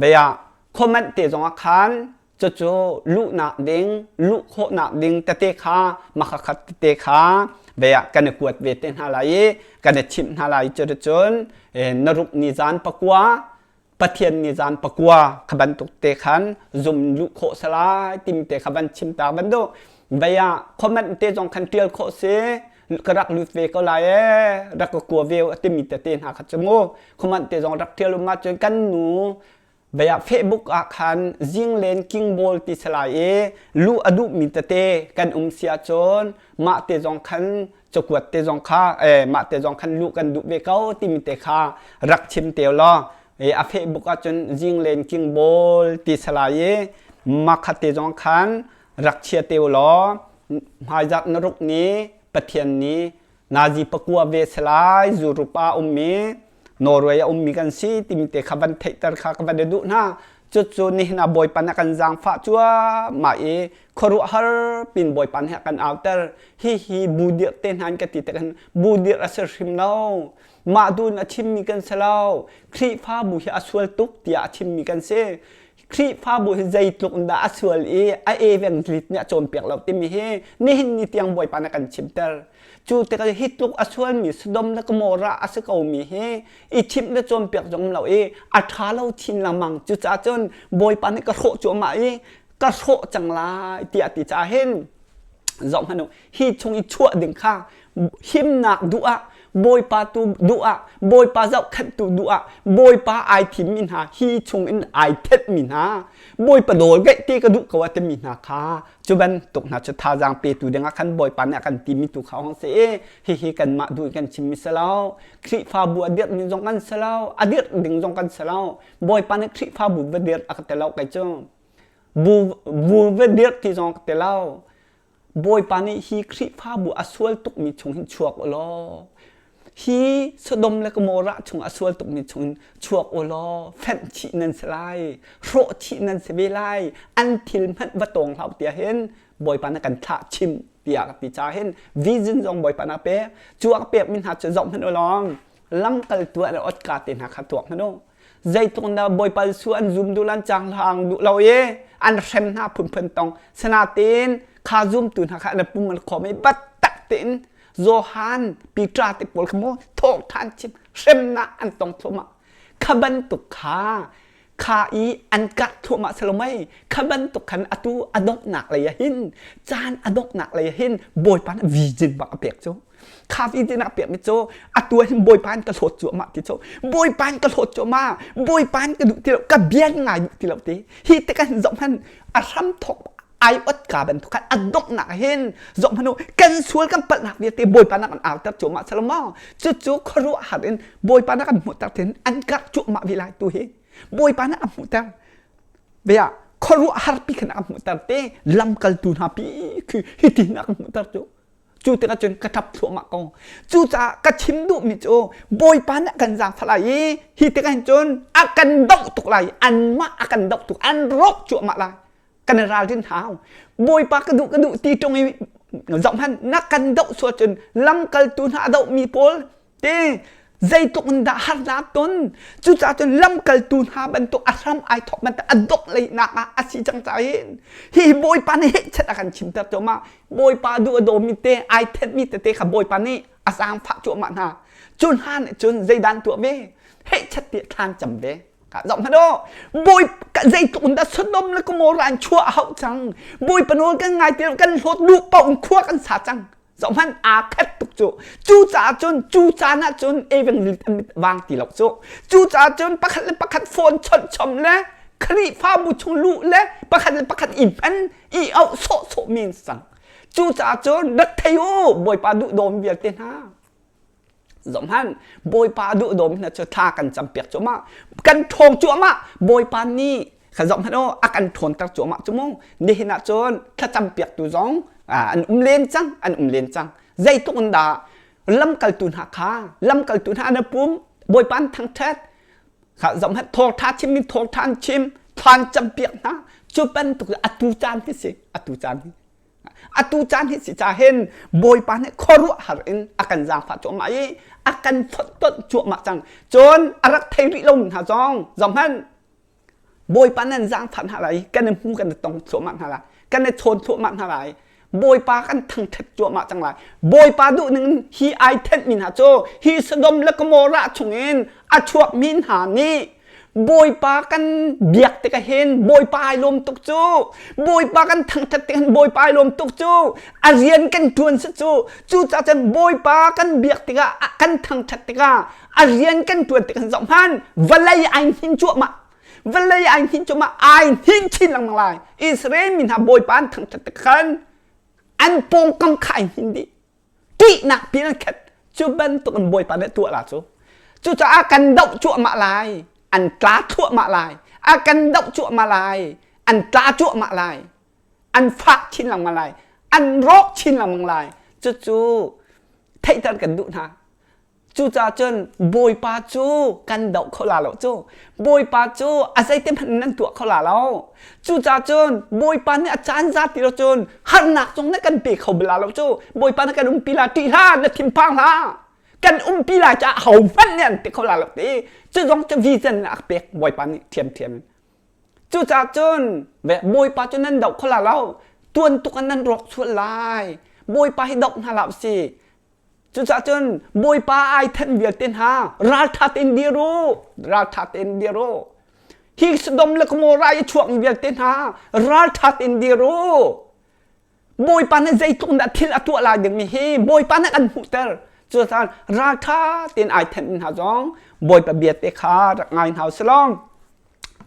veya Comment te zongah khan cucu luhnak ding luh khawhnak ding tete kha makakhat tete kha veah kan i kuat ve te hna lai i kan i thim hna lai cu cun na ruk ni zan pakua pathian ni zan pakua kha bantuk te khan zum luh khawh salai tim te kha van chim ta bantuk vaya comment te zong khan tial khawh si ka rak lut ve ko lai e rak ka kua ve a timi te te hna kha chu mu comment te zong rak tial um ma cun kan nu Bei ah Facebook ah khan Jinglen Kingbawl ti si lai i luh a duhmi tete kan um si ahcun mah te zong khan cakuat te zong kha eh, mah te zong khan luh kan duh ve ko timi te kha rak chim te law e, a Facebook ahcun Jinglen Kingbawl ti si lai i makha te zong khan rak chia te law hmaizat na ruk ni pathian ni nazi pakua ve selai zurup a ummi norway a ummi kan si timte kha van theihter kha ka van i duh hna cucu nihna bawipan a kan zaangfah cuamah i khuaruah har pin bawipan he kan auter hi hi bu dir te hnan ka ti te kan bu dir a sir hrim lo mah dun a chimmi kan se lo khrihfa bu hi a sual tuk tiah a chimmi kan si Khrihfabu hi zeitluk in dah a sual i a eveng lit nih a cawnpiak lo timi hi nihin ni tiang Bawipa nih kan chimter. Cu tikah hi tluk a sualmi Sodom le Gomorrah a si komi hi i thim le cawnpiak zong lo i a ṭha lo chin lengmang. Cucaah cun Bawipa nih ka hrawh cuahmah i ka hrawh cang lai tiah ti caah hin zohhmanh u hi chung i chuah ding kha himnak duh ah bawipa tu duh ah bawipa zohkhenhtu duh ah bawipa ai thimmi hna hi chung in ai thetmi hna bawipa dawr gaih ti ka duh ko a timi hna kha cu bantuk hna cu thazaang petu dingah khan bawipa nih a kan timi tu kha hong se e hihi kanmah du kan chimmi selo khrihfabu a dirh ning zong kan selo a dirh ding zong kan selo bawipa nih khrihfabu va dirh a ka telo kai cu bu bu va dirh ti zong ka telo Bawipa nih hi Khrihfabu a sual tukmi chung hin chuak u law hi Sodom le Gomorrah chung a sual tukmi chung in chuak u law fenh thih nan si lai hrawh thih nan si ve lai an thil hmanh va tawng hlah tiah hin Bawipa na kan thlah chim tiah ka ti ca hin vision zong Bawipa na pek cu a pekmi hna cu zoh hmanh u lawng lamkal tuah le otka te hna kha tuak hmanh u zeitluk dah bawipa Jesuh an zum duh lan cang hlang duh lo i an hrem hna phunphun tong sanatin kha zumtu hna kha an pung an khom i battak tein Johan Peter te pawl kha mo thawng than chim hremna an tong thluamah kha bantuk kha kha i an kah thluamah salomai kha bantuk khan atu adoknak lei ahin caan adoknak lei ahin bawipa nih vi jin bak a pek cu kha ti tina pek mi cho atu hin bawipa in ka hlawt cu amah ti cho bawipa in ka hlawt cu ma bawipa in ka duh ti lo ka biang ngai duh ti lo te hi te kan zom han a hram thok ai ot ka ban thu khan adop nak hin zom hanu kan sual kan pal nak ni te bawipa nak an autar chu ma salama chu chu khru har in bawipa nak an mu tar tin an kar chu ma vi lai tu hi bawipa nak an mu tar vea khru har pi khana an mu tar te lam kal tu na pi khi hi ti nak mu tar chu cu tikah cun ka ṭap thluahmah ko cucaah ka chim duhmi cu bawipa nih a kan zaangfah lai i hi tikah hin cun a kan doh tuk lai anmah a kan doh tuk an rawk cuahmah lai kan i ralrin hau bawipa ka duh ka duh ti ṭung i zohhmanh na kan doh sual cun lamkaltu hna a dohmi pawl te zeitluk in dah harnak ton cucaah cun lamkaltu hna bantuk a hram ai thawk bantuk a dok leinak ah a si cang ca in hi bawipa nih hechet a kan chimter cuahmah bawipa duh a dawmi te ai thetmi tete kha bawipa nih a zaangfah cuahmah hna cu hna nih cun zeidan tuah ve hechet ti thlan cam ve ka zoh hmanh o boy zeitluk in dah sonom le gomorra in chuah a hauh cang boy panu kan ngai ti kan hlawt lu pau in khua kan sa cang zohhmanh aa khat tuk cu cucaah cun cucaan ah cun even wang ti lo cu cucaah cun pakhat le pakhat phone chawnh chom le khrihfabu chung luh le pakhat le pakhat i hman i auh sawh sawh men sang cucaah cun rat thei u bawipa duh dawm vialte hna zohhmanh bawipa duhdawm hna cu thla kan campiak cuahmah kan ṭhawng cuahmah bawipa nih ka zoh hmanh aw a kan ṭhawnter cuahmah cu mu nihin ah cun thlacampiaktu zong an um len cang an um len cang zeitluk in dah lamkaltu hna kha lamkaltu hna an pum bawipa an thangṭhat kha zoh hmanh thawngṭha chim in thawngṭha an chim than campiak hna cu bantuk atu caan hi si atu caan hi atu caan hi si ca hen bawipa nih khuaruah har in a kan zaangfah cuahmah i a kan phottot cuahmah cang cun a rak thei rih lo hna zong zohmanh bawipa nan zaangfah hna lai kan i hmu kan i tong thluahmah hna lai kan i chawn thluahmah hna lai bawipa kan thangthet cuahmah cang lai bawipa duh ning hi ai thenh mi hna cu hi sodom le gomorrah chung in a chuak mi hna nih Bawipa kan biak tik ah hin Bawipa ai lawm tuk cu Bawipa kan thangthat tik hin Bawipa ai lawm tuk cu a rian kan ṭuan si cu cucaah cun Bawipa kan biak tik ah kan thangthat tik ah a rian kan ṭuan tik hin zoh hmanh vawlei ai hnin cuahmah vawlei ai hnin cuahmah ai hnin chin lengmang lai Israel mi hna Bawipa an thangthat tik khan an pawngkam kha ai hnin dih ṭihnak pilkhat cu bantuk in Bawipa nih tuah la cu cucaah kan doh cuahmah lai an tla thuahmah lai a kan doh cuahmah lai an tla cuahmah lai an fak chin lengmang lai an rawk chin lengmang lai cucu theihter kan duh hna Cucaah cun Bawipa cu kan doh kho la lo cu Bawipa cu a zeitihmanh nan tuah kho la lo cucaah cun Bawipa nih a caan za ti lo cun harnak zong nih kan pe kho bal la lo cu Bawipa nih kan umpi la ṭih hlah na thinphang hlah kan umpi lai caah hohmanh nih an pe kho la lo ti cu zong cu vision a pek Bawipa nih ṭhiamṭhiam in cucaah cun Bawipa cu nan doh kho la lo tuan tuk in nan rawk sual lai Bawipa hi doh hna la u si Cucah cun Bawipa ai thanh vialte hna ralṭha tein dir u, ralṭha tein dir u. Hi Sodom le Gomorrah i chuak vialte hna ralṭha tein dir u. Bawipa nih zeitluk dah thil a tuah lai dingmi hi Bawipa nih kan hmuhter. Cucun ralṭha tein ai thenh hna zong Bawipa biate kha rak ngai hna u sih law.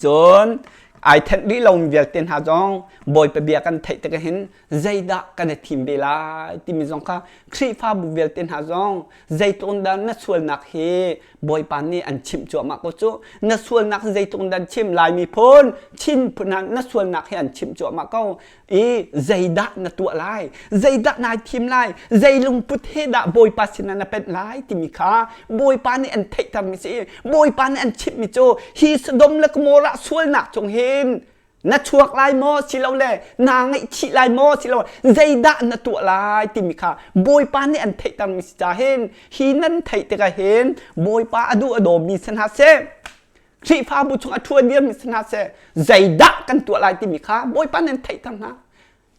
cun ai thenh rih lomi vialte hna zong bawipa bia kan theih tik hin zeidah kan i thim ve lai timi zong kha khrihfabu vialte hna zong zeitlung dah na sualnak hi bawipa nih an chimh cuahmah ko cu na sualnak zeitlung dah chim laimi phun chin phun na sualnak hi an chimh cuahmah ko i zeidah na tuah lai zeidah nai thim lai zei lungput he dah bawipa sinah na penh lai timi kha bawipa nih an theih thar mi si bawipa nih an chimh mi cu hi Sodom le Gomorrah sualnak cung hin na chuak lai maw silole na ngaihchih lai maw silole zeidah na tuah lai timi kha bawipa nih an theih tang mi si ca hin hi nan theih tikah hin bawipa a duh a dawmi si hna seh Khrihfabu chung a ṭhua diammi si hna seh, zeidah kan tuah lai timi kha Bawipa nih an theihter hna.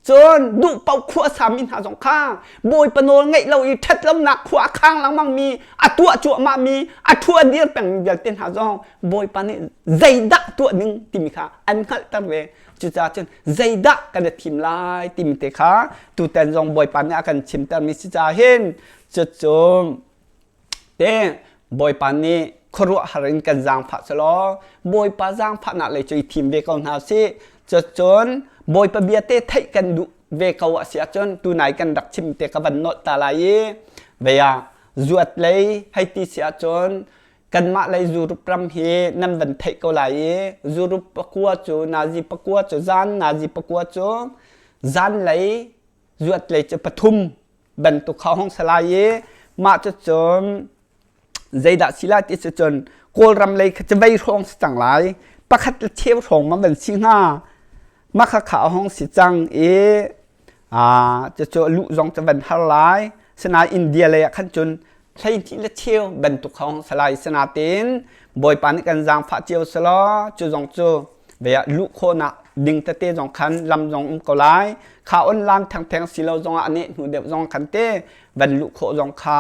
Cun duhpaoh khua a sami hna zong kha Bawipa nawl ngaih lo i ṭhatlonak khua a khang lengmangmi, a tuah cuahmahmi, a ṭhua dir pengmi vialte hna zong Bawipa nih zeidah tuah ning timi kha an hngalhter ve. Cucaah cun zeidah kan i thim lai timi te kha tutan zong Bawipa nih a kan chimtermi si caah hin cucun Teh Bawipa nih khuaruahhar in kan zaangfah selaw Bawipa zaangfahnak lei cu i thim ve ko hna sih. Cun Bawipa bia te theih kan duh ve ko a si ahcun tunai kan rak chim te ka van nolh ta lai i vea zuat lei hei ti si ahcun kanmah lei zurup ram hi nan van theih ko lai i zurup pakua cu nazi pakua cu zan nazi pakua cu zan lei zuat lei cu pathum bantuk kha hong salai i mah cu cun zeidah si lai ti cu cun kawlram lei kha cavei hrawng si cang lai pakhat le cheu hrawng ma van si hnga mah kha kha hong si cang i a cucu lu zong cu van har lai sinain india lei ah khan cun hleihnih le cheu bantuk hong salai sanatin bawipa nih kan zaangfah cio selaw cu zong cu vea luh khawhnak ding tete zong khan lam zong um ko lai kha online thengtheng silo zong ah nih hnu deuh zong khan te van luh khawh zong kha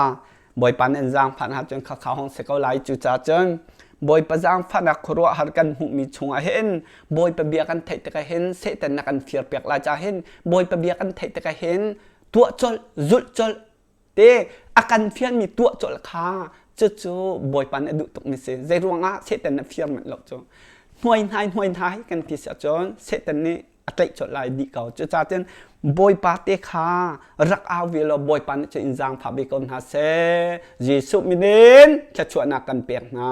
bawipa nih an zaangfah hna cun kha kha hong se ko lai cu ca cun bawipa zaangfahnak khuaruah har kan hmuhmi chungah hin bawipa bia kan theih tikah hin setan na kan firpiak lai ca hin bawipa bia kan theih tikah hin tuah colh zulh colh te a kan fianmi tuah colh kha cucu bawipa nih a duh tukmi si zei ruangah satan na fiar manh lo cu hnuai hnai hnuai hnai kan ti siah cun satan nih a tlaih colh lai dih ko cucaah bawipa te kha rak au ve law bawipa nih cun in zaangfah ve ko hna seh jesuh minin thluachuahnak kan pek hna